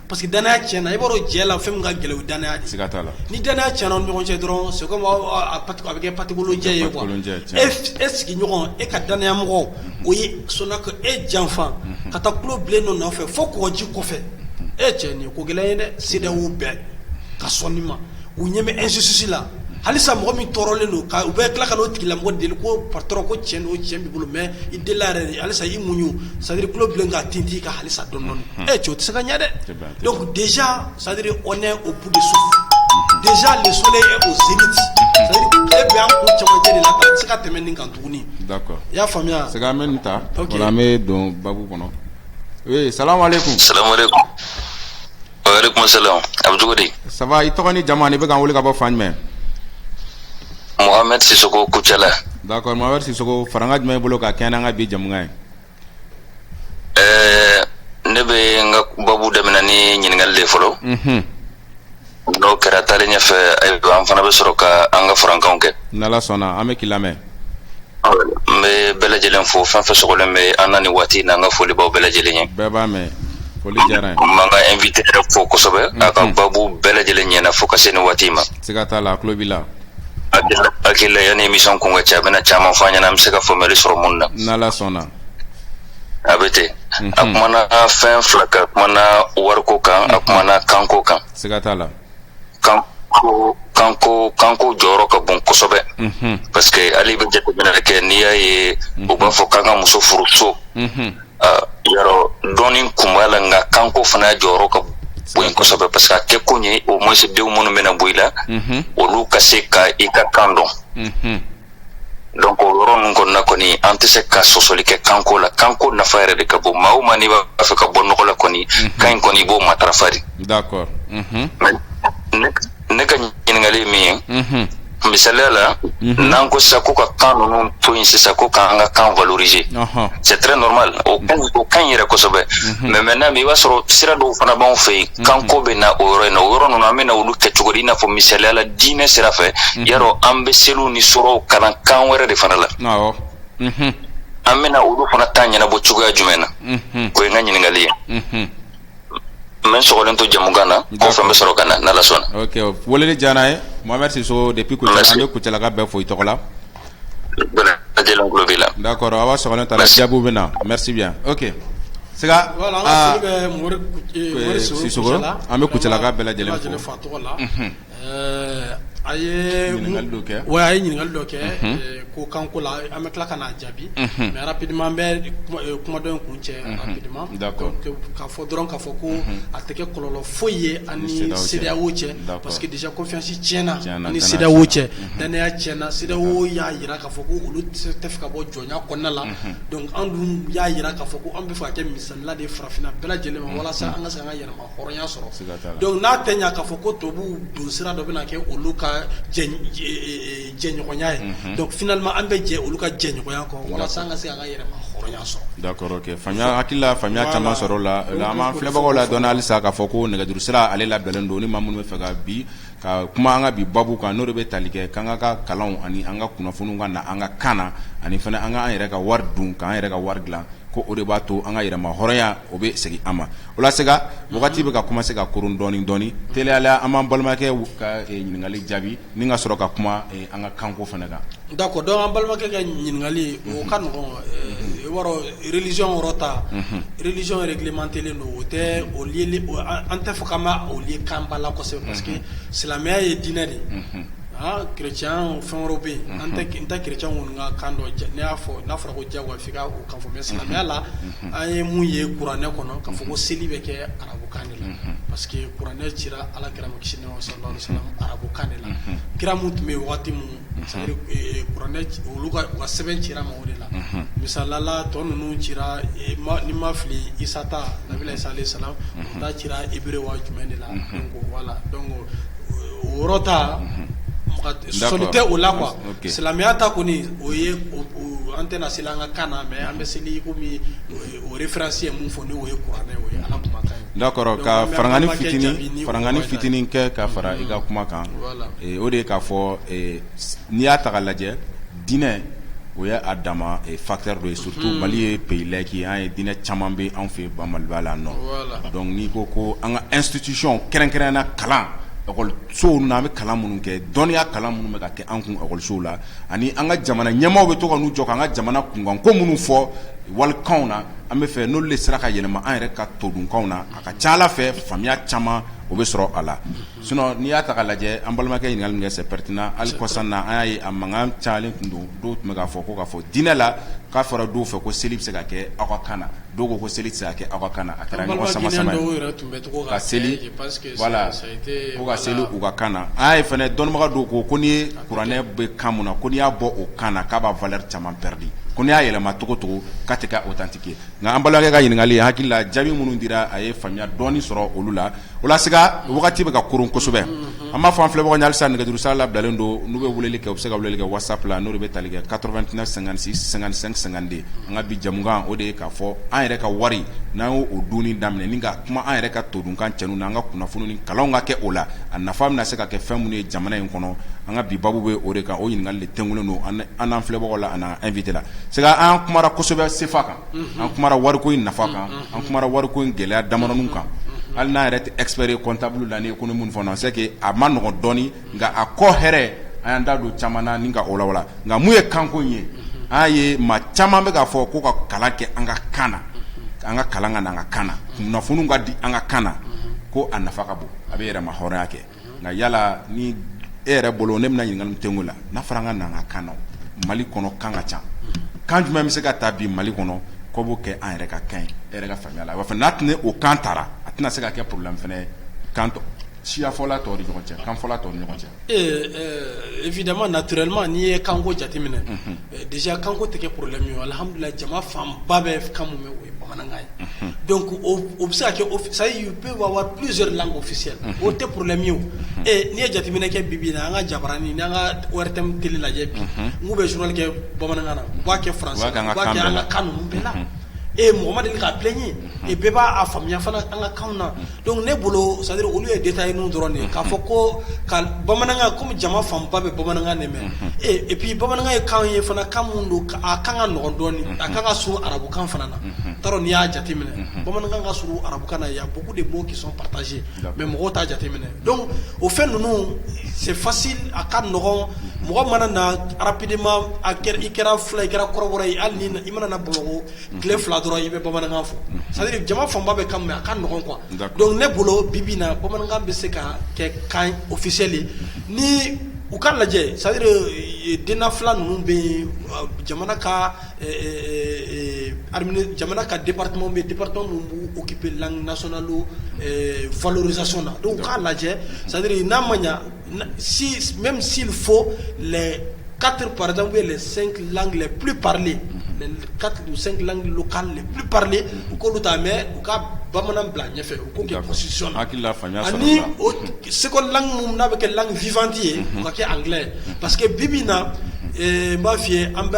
parce que danaya tiɲɛna i b'a dɔn jɛ la fɛn min ka gɛlɛn o ye danaya de siga t'a la ni danaya tiɲɛna ni ɲɔgɔn cɛ dɔrɔn c'est comme a bɛ kɛ patikolo jɛ ye quoi e sigiɲɔgɔn e ka danaya mɔgɔ o ye sɔnna ka e janfa ka taa tulo bilen dɔ nɔfɛ fo kɔgɔji kɔfɛ e cɛ nin ye ko gɛlɛn ye dɛ CEDEAO bɛ ka sɔn nin ma u ɲɛ bɛ injustice la halisa mɔgɔ min tɔɔrɔlen don k'u bɛ tila ka na o tigilamɔgɔ deli ko patron ko cɛn don cɛn b'i bolo mais i delila yɛrɛ halisa i muɲu c'est à dire tulo bilen ka tintin i kan halisa dɔɔnin e cɛ o tɛ se ka ɲɛ dɛ Donc déjà, ça veut dire on est au bout de souffle. Déjà le soleil est au zénith. Ça veut dire e bɛ an kun cɛmancɛ de la ka se ka tɛmɛ nin kan tuguni. D'accord. I y'a faamuya. C'est quand même nin ta. Ok. O la an bɛ don babu kɔnɔ. Oui, salam alaikum. Salam alaikum. Wa alaikum salam. A bɛ cogo di? Ça va, i tɔgɔ ni jamu ani i bɛ k'an wele ka bɔ fan jumɛn? Mohamed Sissoko Kucala. D'accord, Mohamed Sissoko, farankan jumɛn b'i bolo ka kɛɲɛ n'an ka bi jamukan ye? Ɛɛ ne bɛ n ka babu daminɛ ni ɲininkali de fɔlɔ n'o kɛra taalen ɲɛfɛ ayiwa an fana bɛ sɔrɔ ka an ka farankanw kɛ n'Ala sɔnna an bɛ k'i lamɛn n bɛ bɛɛ lajɛlen fo fɛn fɛn sɔgɔlen bɛ an na nin waati in na n ka foli b'aw bɛɛ lajɛlen ye n b'an ka invité yɛrɛ fo kosɛbɛ a ka babu bɛɛ lajɛlen ɲɛna fo ka se nin waati ma Hakili la yanni émission kun ka cɛ a bɛna caman fɔ an ɲɛna an bɛ se ka faamuyali sɔrɔ minnu na n'Ala sɔnna a bɛ ten a kumana fɛn fila kan a kumana wariko kan a kumana kanko kan siga t'a la kan kanko kanko jɔyɔrɔ ka bon kosɛbɛ parce que ale bɛ jateminɛ kɛ n'i y'a ye u b'a fɔ k'an ka muso furu so yɔrɔ dɔɔnin kun b'a la nka kanko fana jɔyɔrɔ ka bon kosɛbɛ parce que a kɛkun ye au moins denw minnu bɛna bɔ i la olu ka se ka i ka kan dɔn donc o yɔrɔ ninnu kɔnɔna kɔni an tɛ se ka sɔsɔli kɛ kanko la kanko nafa yɛrɛ de ka bon maa o maa n'i b'a fɛ ka bɔ nɔgɔ la kɔni kan in kɔni i b'o matarafa de ne ka ɲininkali ye min ye Mhm. misaliya la Mhm. n'an ko sisan ko ka kan ninnu to yen sisan ko k'an ka kan valoriser Ɔhɔn. c'est très normal o ka kan yɛrɛ kosɛbɛ mais maintenant i b'a sɔrɔ sira dɔw fana b'anw fɛ yen kanko bɛ na o yɔrɔ in na o yɔrɔ ninnu an bɛ na olu kɛ cogo di i n'a fɔ misaliya la diinɛ sira fɛ yarɔ an bɛ seliw ni suraw kalan kan wɛrɛ de fana la Awɔ. Mhm. an bɛna olu fana ta ɲɛnabɔ cogoya jumɛn na Mhm. o ye n ka ɲininkali ye Mhm. N bɛ sɔgɔlen to jamukan na kɔfɛ n bɛ sɔrɔ ka na n' Ala sɔnna ok weleli diyara an ye Mohamɛdi Sisoko depuis Kucala an bɛ Kucalakaw bɛɛ fo i tɔgɔ la d'accord aw ka sɔgɔlen to a la jaabiw bɛ na merci bien ok siga Sisoko an bɛ Kucalakaw bɛɛ lajɛlen fo. a ye kɛ wa a ye ɲininkali dɔ kɛ ko kanko la an bɛ tila ka n'a jaabi mais rapidement an bɛ kumadenw kun cɛ rapidement k'a fɔ dɔrɔn k'a fɔ ko a tɛ kɛ kɔlɔlɔ foyi ye an ni CEDEAO cɛ parce que déjà confiance tiɲɛna an ni CEDEAO cɛ dannaya tiɲɛna CEDEAO y'a jira k'a fɔ ko olu tɛ fɛ ka bɔ jɔnya kɔnɔna la donc anw dun y'a jira k'a fɔ ko an bɛ fɛ ka kɛ misali la de farafinna bɛɛ lajɛlen ma walasa an ka se an ka yɛrɛma hɔrɔnya sɔrɔ donc n'a tɛ ɲɛ k'a fɔ ko tubabu don sira dɔ bɛna kɛ olu ka jɛɲɔgɔnya ye donc finalement an bɛ jɛ olu ka jɛɲɔgɔnya kɔ walasa an ka se an ka yɛrɛma hɔrɔnya sɔrɔ d'accord ok faamuya hakilila faamuya caman sɔrɔla an b'an filɛbagaw ladɔnniya halisa k'a fɔ ko nɛgɛjuru sira ale labilalen don ni maa minnu bɛ fɛ ka bi Ka kuma an ka bi babu kan n'o de bɛ tali kɛ k'an ka ka kalanw ani an ka kunnafoniw ka na an ka kan na ani fana an ka an yɛrɛ ka wari dun k'an yɛrɛ ka wari dilan ko o de b'a to an ka yɛrɛma hɔrɔnya o bɛ segin an ma o la Sega wagati bɛ ka commencer ka koron dɔɔni dɔɔni teliya la an b'an balimakɛ ka ɲininkali jaabi ni ka sɔrɔ ka kuma an ka kanko fana kan d'accord donc an balimakɛ ka ɲininkali o ka nɔgɔ religion yɔrɔ ta religion réglementélen don o tɛ o an tɛ fɔ k'an b'o lié kan ba la kosɛbɛ parce que silamɛya ye diinɛ de ye aa kerecɛn fɛn wɛrɛw bɛ yen n tɛ kerecɛn ninnu ka kan dɔn ne y'a fɔ n'a fɔra ko jagoya f'i k'o kan fɔ mais silamɛya la an ye mun ye kuranɛ kɔnɔ k'a fɔ ko seli bɛ kɛ arabukan de la parce que kuranɛ cira ala kira ma kisi nɛɛma sallallahu alaihi wasallam arabukan de la kira min tun bɛ yen waati min ka sɛbɛn cira u ma o de la misali la tɔ ninnu cira ni n ma fili Isa ta nabila Isa alayhi salam o ta cira hébreu wa jumɛn de la donc voilà donc o yɔrɔ ta sɔsɔli tɛ o la quoi silamɛya ta kɔni o ye an tɛna seli an ka kan na mais an bɛ seli i o référence ye min fɔ n'o ye kuranɛ ye ala kumakan ye d'accord ka farankan fitinin farankan fitinin kɛ ka fara i ka kuma kan o de ye k'a fɔ n'i y'a taga lajɛ diinɛ o ye a dama facteur dɔ ye surtout mali ye pays laïque an ye diinɛ caman bɛ an fɛ Maliba la nɔ donc n'i ko ko an ka institution kɛrɛnkɛrɛn na kalan ekɔlisow na an bɛ kalan minnu kɛ dɔnniya kalan minnu bɛ ka kɛ an kun ekɔlisow la ani an ka jamana ɲɛmaaw bɛ to ka n'u jɔ k'an ka jamana kunkanko minnu fɔ walikanw na an bɛ fɛ n'olu de sera ka yɛlɛma an yɛrɛ ka todunkanw na a ka ca a la fɛ faamuya caman o bɛ sɔrɔ a la sinon n'i y'a taga lajɛ an balimakɛ ye ɲininkali min kɛ c'est pertinent hali kɔsan na an y'a ye a mankan cayalen tun don dɔw tun bɛ k'a fɔ ko k'a fɔ diinɛ la k'a fɔra dɔw fɛ ko seli bɛ se ka kɛ aw ka kan na dɔw ko seli tɛ se ka kɛ aw ka kan na a kɛra ɲɔgɔn sama sama ye ka seli Voilà ko ka seli u ka kan na an y'a ye fana dɔnnibaga dɔw ko ko n'i ye kuranɛ bɛ kan min na ko n'i y'a bɔ o kan na k'a b'a valeur caman perdi ko n'i y'a yɛlɛma cogocogo k'a tɛ kɛ authentique ye nka an balimakɛ ka ɲininkali hakilila jaabi minnu dira a ye faamuya dɔɔni sɔrɔ olu la o la Sega wagati bɛ ka koron kosɛbɛ an b'a fɔ an filɛbagaw ɲɛ halisa nɛgɛjuru sira labilalen don n'u bɛ weleli kɛ u bɛ se ka weleli kɛ WhatsApp la n'o de bɛ tali kɛ quatre-vingt-neuf cinquante-six cinquante-cinq cinquante-deux an ka bi jamukan o de ye k'a fɔ an yɛrɛ ka wari n'an y'o don daminɛ kuma an yɛrɛ ka todunkan cɛn na an ka kunnafoni ni kalanw ka kɛ o la a nafa bɛna se ka kɛ fɛn minnu ye jamana in kɔnɔ an ka bi babu bɛ o de kan o ɲininkali de tɛngulen don an n'an filɛbagaw la an n'an invité la Sega an kumara kosɛbɛ sefa kan an kumara wariko in nafa kan an kumara wariko in gɛlɛya damadɔw kan hali n'an yɛrɛ tɛ expert ye comptable la ni économie fana c'est que a ma nɔgɔn dɔɔni nka a kɔ hɛrɛ an y'an da don caman na ni ka o lawala nka mun ye kanko ye an ye maa caman bɛ k'a fɔ ko ka kalan kɛ an ka kan na an ka kalan ka na an ka kan na kunnafoniw ka di an ka kan na ko a nafa ka bon a bɛ yɛrɛmahɔrɔnya kɛ nka yala ni e yɛrɛ bolo ne bɛna ɲininkali min kɛ n ko la n'a fɔra an ka na an ka kan na Mali kɔnɔ kan ka ca kan jumɛn bɛ se ka ta bi Mali kɔnɔ ko b'o kɛ an yɛrɛ ka kan ye e yɛrɛ ka faamuya la wa fana n'a tɛna o kan tara a tɛna se ka kɛ problème fana ye kan siyafɔla tɔw ni ɲɔgɔn cɛ kanfɔla tɔw ni ɲɔgɔn cɛ ee ɛɛ évidemment naturellement n'i ye kanko jateminɛ unhun déjà kanko tɛ kɛ problème ye o alhamdoulillahi jama fanba bɛ kan min mɛ o ye bamanankan ye unhun donc o b o bɛ se ka kɛ office c'est à dire il peut y avoir plusieurs langues officielles unhun o tɛ problème ye o unhun ee n'i ye jateminɛ kɛ bi-bi in na an ka jabaranin n'an ka ORTM télé lajɛ bi unhun n k'u bɛ journal kɛ bamanankan na u b'a kɛ français la u b'a kɛ an ka kan ninnu bɛɛ la ee mɔgɔ ma deli k'a plaigner unhun et bɛɛ b'a a faamuya fana an ka kanw na unhun Donc ne bolo c'est à dire olu ye détail ninnu dɔrɔn de ye k'a fɔ ko ka bamanankan comme jama fanba bɛ bamanankan de mɛn et puis bamanankan ye kan ye fana kan min don a kan ka nɔgɔ dɔɔni a kan ka surun arabukan fana na t'a dɔn n'i y'a jateminɛ bamanankan ka surun arabukan na il y a beaucoup de mots qui sont partagés mais mɔgɔw t'a jateminɛ donc o fɛn ninnu c'est facile a ka nɔgɔ mɔgɔ mana na rapidement i kɛra fula i kɛra kɔrɔbɔrɔ ye hali i mana na Bamakɔ tile fila dɔrɔn i bɛ bamanankan fɔ sari jama fanba bɛ ka a ka ɲɔgɔn kuwa dɔnku ne bolo bibi na bamanankan bɛ se ka kɛ kan ofisɛlen ni u ka lajɛ sari den fila ninnu bɛ yen jamana ka jamana ka di bɛ bɛpkipi laginaso don vlz na don k'a lajɛ sadiri n'a ma ɲɛ Mɛ si fo kari paz bɛ plen plen u ko bɛ taa mɛ u ka bamanan bila ɲɛfɛ u segukɔlan n'a bɛ kɛ fifanti ye ka kɛ an pa que bi min na n b'a f fɔi ye an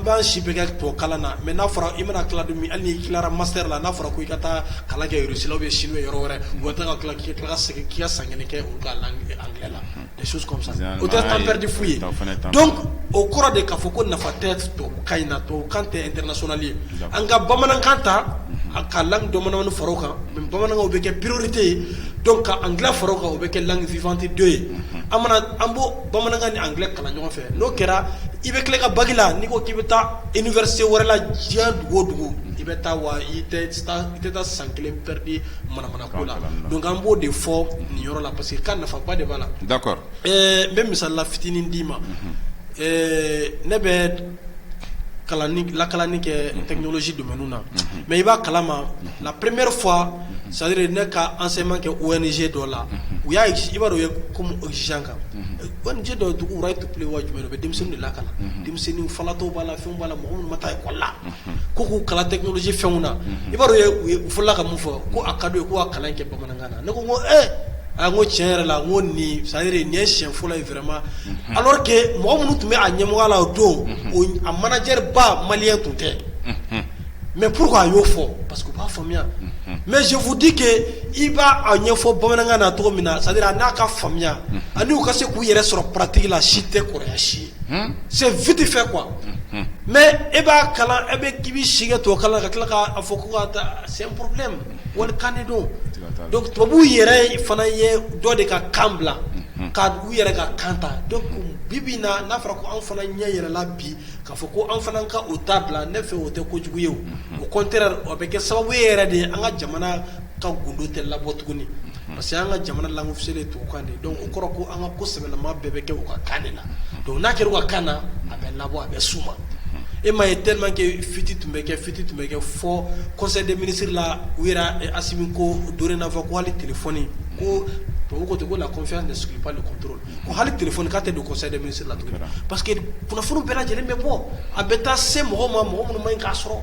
b'an si bɛ kɛ to kalan na mɛ n'a fɔra i mana tilalat hali tilara masala n'a fɔra ko i ka taa kala kɛrusilaw bɛ si yɔrɔ wɛrɛ ka ka segin k'i ka san kelen kɛ olu ka langue anglais la des choses comme ça Généralement o tɛ temps perdu fu ye o fana ye temps donc o kɔrɔ de k'a fɔ ko nafa tɛ tubabukan in na tubabukan tɛ international ye d'accord an ka bamanankan ta a ka langue dɔ manamani fara o kan mais bamanankan o bɛ kɛ priorité ye donc ka anglais fara o kan o bɛ kɛ langue vivante deux ye an mana an b'o bamanankan ni anglais kalan ɲɔgɔn fɛ n'o kɛra i bɛ tila i ka bac la n'i ko k'i bɛ taa université wɛrɛ la diɲɛ dugu o dugu i bɛ taa wa i tɛ taa i tɛ taa san kelen perdu an b'o de fɔ nin yɔrɔ la parce que ka nafa ba de b'a la da n bɛ misala fitinin d'i ma ne bɛ lakalani kɛ tɛsi don na mɛ i b'a kala ma la premeri fɔ sari ne ka an sema kɛ o niz dɔ la u y'a i b'a dɔn ye komiz kan nise dɔ dugu wɛrɛ ye tu pe wa jumɛn bɛ denmisɛnnin de la ka na denmisɛnnin fatɔ b'a la fɛn b'a la mɔgɔ ma taa ikɔ la ko k'u kalan technologie fɛnw na i b'a dɔn u fɔlɔla ka mun fɔ ko a ka d'u ye ko ka kalan kɛ bamanankan na ne ko ko e a ko tiɲɛ yɛrɛ la ko nin c'est à dire nin ye siɲɛ fɔlɔ ye vraiment alors que mɔgɔ minnu tun bɛ a ɲɛmɔgɔya la o don a manager ba malien tun tɛ mais pourquoi a y'o fɔ parce que u b'a faamuya mais je vous dis que i b'a a ɲɛfɔ bamanankan na cogo min na c'est à dire a n'a ka faamuya ani u ka se k'u yɛrɛ sɔrɔ pratique la si tɛ kɔrɔya si ye c'est vite fait quoi mais e b'a kalan e bɛ k'i bɛ sigi ka tɔ kalan ka tila k'a fɔ ko ka taa c'est un problème wali kan de don donc tubabuw yɛrɛ fana ye dɔ de ka kan bila ka u yɛrɛ ka kan ta donc bi bi in na n'a fɔra ko anw fana ɲɛ yɛlɛla bi k'a fɔ ko anw fana ka u ta bila ne fɛ o tɛ kojugu ye au contraire o bɛ kɛ sababu ye yɛrɛ de an ka jamana ka gdo tɛ labɔ tuguni parce que an ka jamana lamuso de tubabu kan dɔn o kɔrɔ ko an ka ko sɛbɛnlama bɛɛ bɛ kɛ u ka kan de la don n'a kɛra ka kan na a bɛ labɔ a bɛ su ma e ma ye tekɛ fiti tun bɛ kɛ fiti tun bɛ kɛ fɔ kɔsɛden minisiriri la u yɛrɛ asi ko don n'a fɔ ko wali tile fɔoni ko to ko ten ko la kɔfɛ de sunjata de ko hali téléphone k'a tɛ don conseil des ministres la tuguni parce que kunnafoniw bɛɛ lajɛlen bɛ bɔ a bɛ taa se mɔgɔ ma mɔgɔ minnu man ɲi k'a sɔrɔ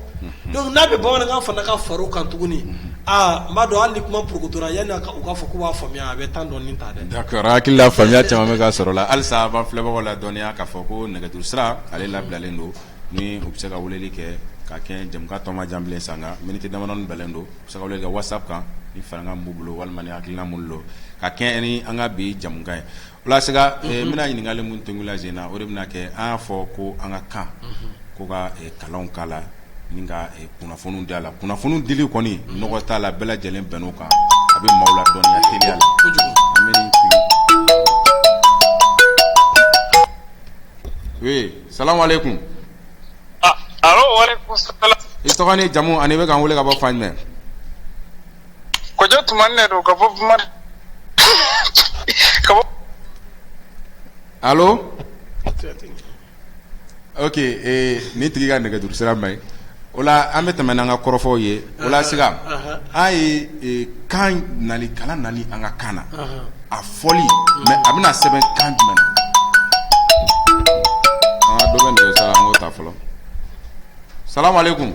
donc n'a bɛ bamanankan fana ka far'o kan tuguni aaa n b'a dɔn hali ni kuma porokotora yanni u k'a fɔ k'u b'a faamuya a bɛ temps dɔɔnin ta dɛ d'accord hakili la faamuya caman bɛ ka sɔrɔ la halisa an b'an filɛbagaw ladɔnniya k'a fɔ ko nɛgɛjuru sira ale labilalen don ni u bɛ se ka weleli kɛ ka kɛ jɛmukan tɔ man jan bilen sanga miniti damadɔnin bilen don Se ka whatsapp kan ni farankan b'u bolo walima ni hakilina b'u bolo ka kɛ ni an ka bi jɛmukan ye o la sisan n bɛna ɲininkali min tun la Zena o de bɛna kɛ an y'a fɔ ko an ka kan ko ka kalanw k'a la ni ka kunnafoni d'a la kunnafoni dili kɔni nɔgɔ t'a la bɛɛ lajɛlen bɛnn'o kan a bɛ maaw ladɔnniya teliya la salamu aleykum I tɔgɔ ni jamu ani bɛ ka wele ka bɔ fan jumɛn oke ni tigi ka nɛgɛuru sira ma o an bɛ tɛmɛ n' an ka kɔrɔfɔfɔw ye O la sisan an ye kan nali kala nali an ka kaana na a fɔli mɛ a bɛna sɛbɛn kan jumɛn ta fɔlɔ sa kun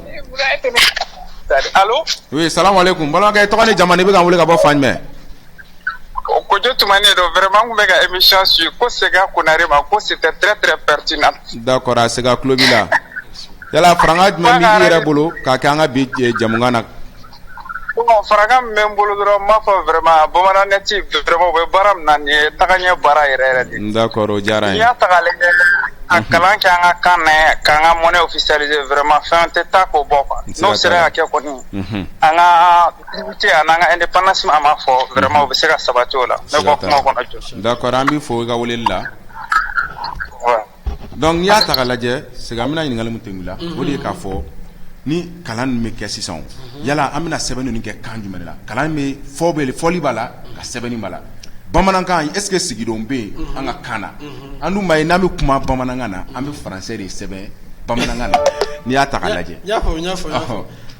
sa kun bamanankɛ tɔgɔ ni jamana i bɛ ka wele ka bɔ fan jumɛn Ko tun ne don wɛrɛma tun bɛ ka e miy su ko se konare ma ko si tɛ tɛrɛ pati na da kɔrɔ a se ka tulobi la yala fanga jumɛn bɛ yɛrɛ bolo ka kɛ an ka bi jamana na fanga bɛ n bolo dɔrɔn ma fɔ wɛrɛma bamanan ne tɛ bɛ baara min na nin ye taga ɲɛ baara yɛrɛ yɛrɛ da kɔrɔ diyara y'a ta a kalan kɛ an ka kan k'an ka mɔnɛ fisali wɛrɛma fɛn tɛ taa ko bɔ kuwa n'o sera ka kɛ kɔni an ka Activité a n'an ka indépendance an b'a fɔ vraiment u bɛ se ka sabati o la ne bɔ kuma kɔnɔ jɔ d'accord an b'i fo i ka weleli la donc n'i y'a ta lajɛ Sega an bɛna ɲininkali min tun la o de ye k'a fɔ ni kalan bɛ kɛ sisan yala an bɛna sɛbɛnni ninnu kɛ kan jumɛn la kalan bɛ fɔ bɛ fɔli b'a la ka sɛbɛnni b'a la bamanankan est-ce que siginidenw bɛ yen an ka kan na an b'a ye n'an bɛ kuma bamanankan na an bɛ français de sɛbɛn bamanankan na n'i y'a ta lajɛ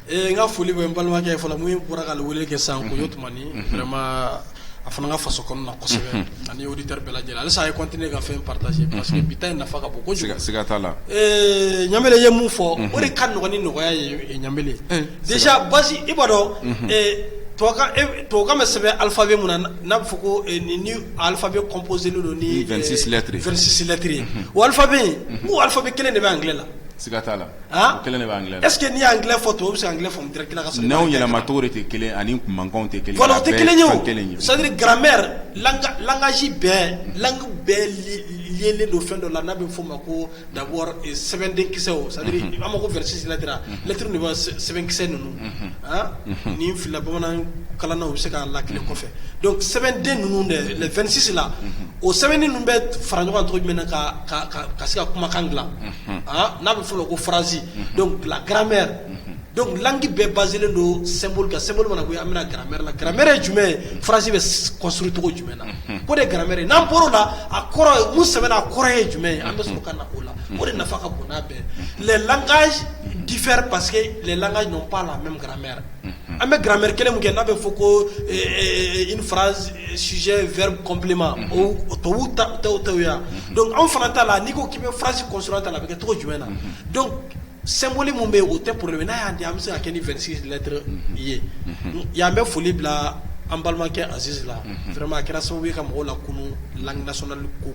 Ee n ka foli bɛ n balimakɛ fɔlɔ min bɔra ka wele kɛ san ko ye tuma a fana ka faso kɔnɔ na kosɛbɛ ani y'o ta bɛɛ lajɛlen alisa a ye kɔnten ne ka fɛn patase pa que bi in nafa ka bon ko sigaka la ɲamina ye mun fɔ o de ka dɔgɔn ni nɔgɔyaya ye ɲaele dec basi i b'a dɔn tobabu bɛ sɛbɛn alifa bɛ min n'a bɛ fɔ ko ni alifa bɛ kɔnpse don nitirisilɛttiriri alifa bɛ yen ko alifa bɛ kelen de bɛ an g la Kelen de bɛ anglais la est-ce que n'i ye anglais fɔ tubabu bɛ se ka anglais faamu n' yɛlɛmacogo de tɛ kelen ani mankanw tɛ kelen o tɛ kelen ye c'est-à-dire grammaire langage bɛɛ langue bɛɛ liélen don fɛn dɔ la n'a bɛ f'o ma ko d'abord sɛbɛnden kisɛw c'est-à-dire an ma ko vingt-six lettres lettres de sɛbɛnkisɛ ninnu ni fila bamanan kalannaw bɛ se k'a lakili kɔfɛ donc sɛbɛnden ninnu de vingt-six la o sɛbɛn ninnu bɛ fara ɲɔgɔn cogo jumɛn na ka ka se ka kumakan dilan n'a bɛ fɔ ko fararanz garan donki bɛɛ ba don don mana an bɛna garan la garan jumɛn farasi bɛcogo jumɛn na ko de garan n'an bɔra la a kɔrɔ mu sɛbɛn a kɔrɔ ye jumɛn ye an bɛ sɔrɔ ka na o la o de nafa ka bon bɛɛ laka dife paseke laka ɲɔgɔn la mɛ garan An bɛ gramɛ kelen min kɛ n'a bɛ fɔ ko fara sijɛ vri kɔnbilenma to ta yan don anw fana t'a la n'i ko k'i bɛ farasi kɔsɔ ta la a bɛ kɛ tɔgɔ jumɛn na don sanboli min bɛ yen o tɛ poro n'a y'a di an bɛ se ka kɛ ni vsilɛtɛ ye yan bɛ foli bila an balimakɛ azizrama kɛra sababu ka mɔgɔw la kunun lakidasoli ko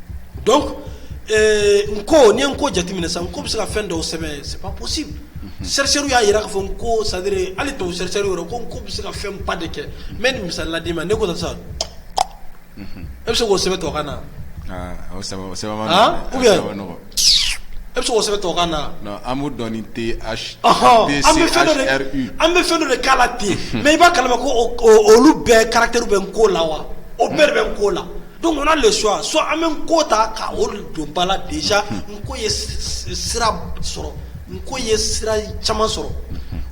donc n ko ni i ye n ko jateminɛ sa n ko bɛ se ka fɛn dɔw sɛbɛn c'est pas possible chercheurs y'a jira k'a fɔ n ko c'est à dire hali tubabu chercheurs yɛrɛ ko n ko bɛ se ka fɛn ba de kɛ n bɛ nin misali la d'i ma ne ko sisan e bɛ se k'o sɛbɛn tubabukan na wa ou bien e bɛ se k'o sɛbɛn tubabukan na non an b'o dɔn ni TH an bɛ fɛn dɔ de an bɛ fɛn dɔ de k'a la ten mais i b'a kalama ko olu bɛɛ caractères bɛ n ko la wa o bɛɛ de bɛ n ko la. Donc on a le choix soit an bɛ n ko ta ka o don ba la déjà n ko ye sira sɔrɔ n ko ye sira caman sɔrɔ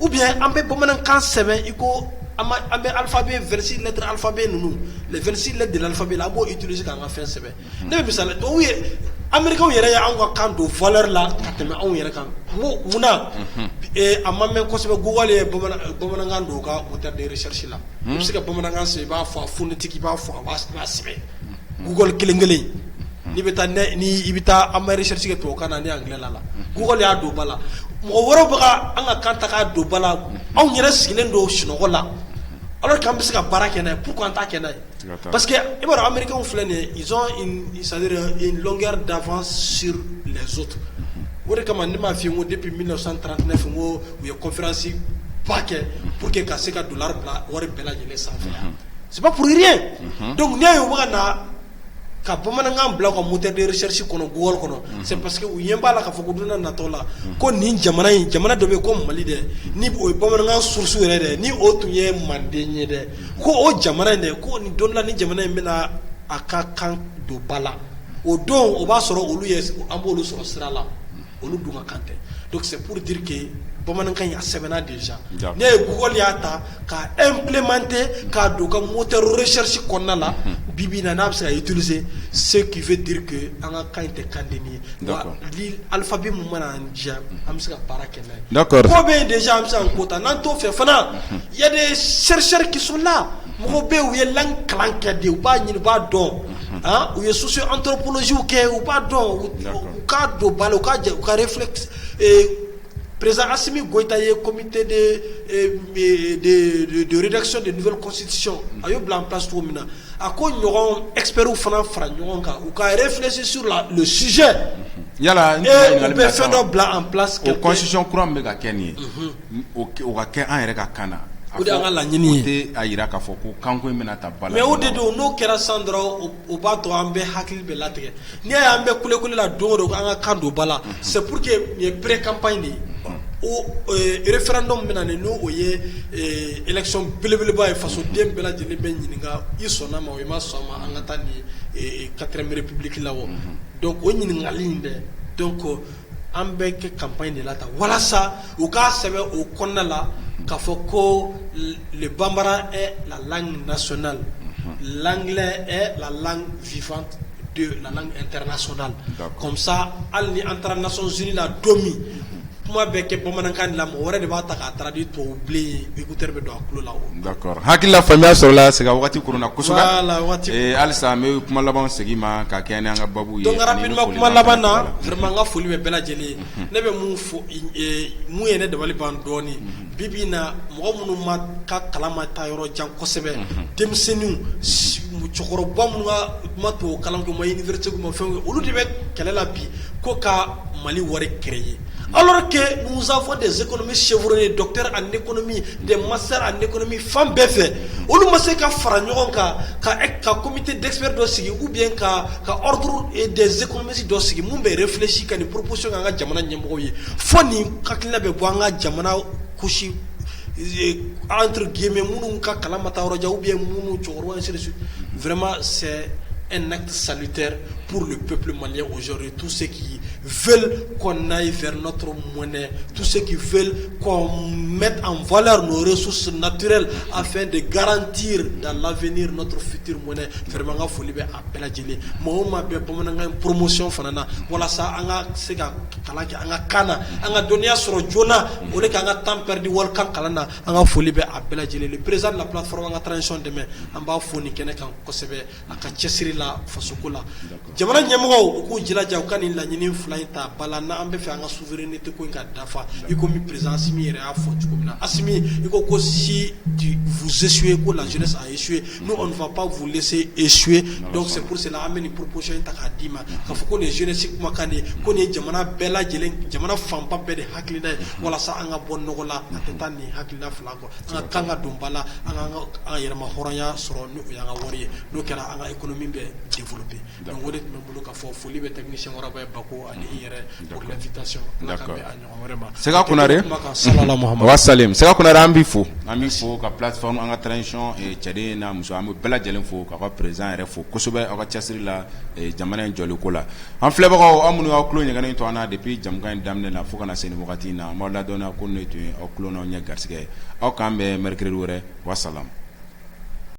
ou bien an bɛ bamanankan sɛbɛn i ko an bɛ alphabet 26 lettres alphabet ninnu 26 lettres de l'alphabet la an b'o utiliser ka an ka fɛn sɛbɛn ne bɛ misali d'aw ye américains yɛrɛ ye anw ka kan don valeur la ka tɛmɛ anw yɛrɛ kan munna a ma mɛn kosɛbɛ Google ye bamanankan don u ka moteur de recherche la u bɛ se ka bamanankan i b'a fɔ a ftigi i b'a fɔ a sɛbɛn gugoli kelen kelen i bɛ taa i bɛ taa anmeri to ka na ne anla la gugɔ y'a don bala la mɔgɔ wɛrɛ an ka kan ta' don bala la anw yɛrɛ sigilen don sunɔgɔ la ala' an bɛ se ka baara kɛ k'u an ta kɛ ye parce que i b'a anmeri filɛ nin sa kɛra danfa siri so o de kama ne m'a fɔ yen ko de bɛ mi san tan ne fɔ ko u ye kofransi ba kɛ pour que ka se ka don bila wari bɛɛ lajɛlen sanfɛ saba pure dɔnku n' ye u bɛka na ka bamanankan bila ka mu tɛ sɛrisi kɔnɔ wari kɔnɔ parce que u ɲɛ b'a la ka fɔ ko dunan natɔ la ko nin jamana in jamana dɔ bɛ ko mali dɛ ni o ye bamanankan susu yɛrɛ dɛ ni o tun ye manden ye dɛ ko o jamana in de ko nin don dɔ la ni jamana in bɛna a ka kan don ba la o don o b'a sɔrɔ olu ye an b'olu sɔrɔ sira la olu dun ka kan tɛ donc c'est pour dire que bamanankan a sɛbɛnna déjà ne ye Google y'a ta k'a implémenter k'a don a ka moteur recherche kɔnɔna la bi bi in na n'a bɛ se k'a utiliser ce qui veut dire que an ka kan tɛ kan dennin ye alphabet min mana an diya an bɛ se ka baara kɛ n'a ye n ko bɛ yen déjà an bɛ se ka n ko ta n'an t'o fɛ fana Ya de sɛricsɛri kiina mɔgɔw bɛ u ye la kalan kɛ de u b'a ɲini u b'a dɔn u ye soso an tɔ kosiw kɛ u b'a dɔn k'a don balo u ka jɛ u kare filɛ perezsimi gta ye komite dedsɔn de kɔsisi a y'u bila an pa cogo min na a ko ɲɔgɔn epriw fana fara ɲɔgɔn kan u ka yɛrɛ filɛsi su la sijɛ yala bɛ fɛn dɔ bila an psisiɔn kura bɛ ka kɛ nin ye o ka kɛ an yɛrɛ ka kan na o de y'an ka laɲini ye o tɛ a jira k'a fɔ ko kanko in bɛna ta bala mais o de don n'o kɛra san dɔrɔn o b'a to an bɛɛ hakili bɛ latigɛ n'i y'a ye an bɛ kulekule la don o don an ka kan don ba la c'est pour que nin ye pré campagne de ye o référendum bɛna nin n'o ye élection belebeleba ye fasoden bɛɛ lajɛlen bɛ ɲininka i sɔnna ma o i ma sɔn ma an ka taa nin quatrième république la o donc o ɲininkali in dɛ donc An bɛ kɛ kap in de la tan walasa u k'a sɛbɛn u kɔnɔna la ka fɔ ko le bamanan la lasonina la la vfa la soda kɔmisa hali ni an taara naon z la don min kuma bɛ kɛ bamanankan la mɔgɔ wɛrɛ de b'a ta k'a taara di tɔwbilen ye Hakilila faamuya sɔrɔla Sega waati halisa an bɛ kuma laban segin ma ka kɛ an ka babu ye donc rapidement kuma laban na vraiment n ka foli bɛ bɛɛ lajɛlen ne bɛ mun fɔ mun ye ne dabali ban dɔɔnin bi bi in na mɔgɔ minnu ma ka kalan ma taa yɔrɔ jan kosɛbɛ denmisɛnninw cɛkɔrɔba minnu ka ma to kalan kɛ ma université u ma fɛn olu de bɛ kɛlɛ la bi ko ka Mali wari créer Alors que nous avons des économistes chevronnés, docteurs en économie, des masters en économie fan bɛɛ fɛ, olu ma se ka fara ɲɔgɔn kan ka comité d'experts dɔ sigi ou bien ka ordre des économistes dɔ sigi mun bɛ réfléchi ka nin proposition kɛ an ka jamana ɲɛmɔgɔw ye fo nin hakilina bɛ bɔ an ka jamana couche entre guillemets minnu ka kalan ma taa yɔrɔ jan ou bien minnu cɛkɔrɔba ainsi de suite, vraiment c'est un acte salutaire pour le peuple malien aujourd'hui, tous ceux qui v kɔnɔna fɛtɔ mɔnɛ tu se k' v mɛ an vlɛra n su sun nattirer a fɛn de garanti da lafiniretura fitiriri mɔnɛ fɛma ka foli bɛ a bɛɛ lajɛlen mɔgɔ ma bɛ bamanankan poromosiyɔn fana na walasa an ka se ka kalan kɛ an ka kaana na an ka dɔnniya sɔrɔ joona o de k'an ka tanpɛ di wari ka kalan na an ka foli bɛ a bɛɛ lajɛlen perez lafifafa ka taasi dɛmɛ an b'a fɔ ni kɛnɛ kan kosɛbɛ a ka cɛsiri la faso ko la jamana ɲɛmɔgɔw k'u jilaja u ka nin laɲini fila in ta bala n' an b'a fɛ an ka souveraineté ko in ka dafa i komi président Assimi yɛrɛ y'a fɔ cogo min na Assimi ko si vous échouez ko la jeunesse a échoué nous on ne va pas vous laisser échouer donc c'est pour cela an bɛ nin proposition in ta k'a d'i ma k'a fɔ ko nin jeunesse kumakan de ko nin ye jamana bɛɛ lajɛlen jamana fanba bɛɛ de hakilina ye walasa an ka bɔ nɔgɔ la a tɛ taa nin hakilina fila kɔ An ka kan ka don bala an ka yɛlɛma hɔrɔnya sɔrɔ ni y' ka wari ye n'o kɛra an ka kolon min bɛ den bolo bɛ da wɛrɛ de tun bɛ bolo ka fɔ foli bɛ tɛmɛ nikɔrɔba ye ba ko ani yɛrɛ ɲɔgɔn sa sa kun an bɛ fo an bɛ fɔ ka p sɔn an ka taacɔn cɛden in na muso an bɛ bɛɛ lajɛlen fo ka ka perez yɛrɛ fo kosɛbɛ aw ka cɛsiri la jamana in jɔliko la An filɛbagaw aw minnu y'aw tulo jɛngɛnnen to an na depuis jɛmukan in daminɛ na fo ka na se nin wagati in na, an b'aw ladɔnniya ko nin tun ye aw tulo n'aw ɲɛ garisigɛ ye, aw k'an bɛn mercredi wɛrɛ, wa salam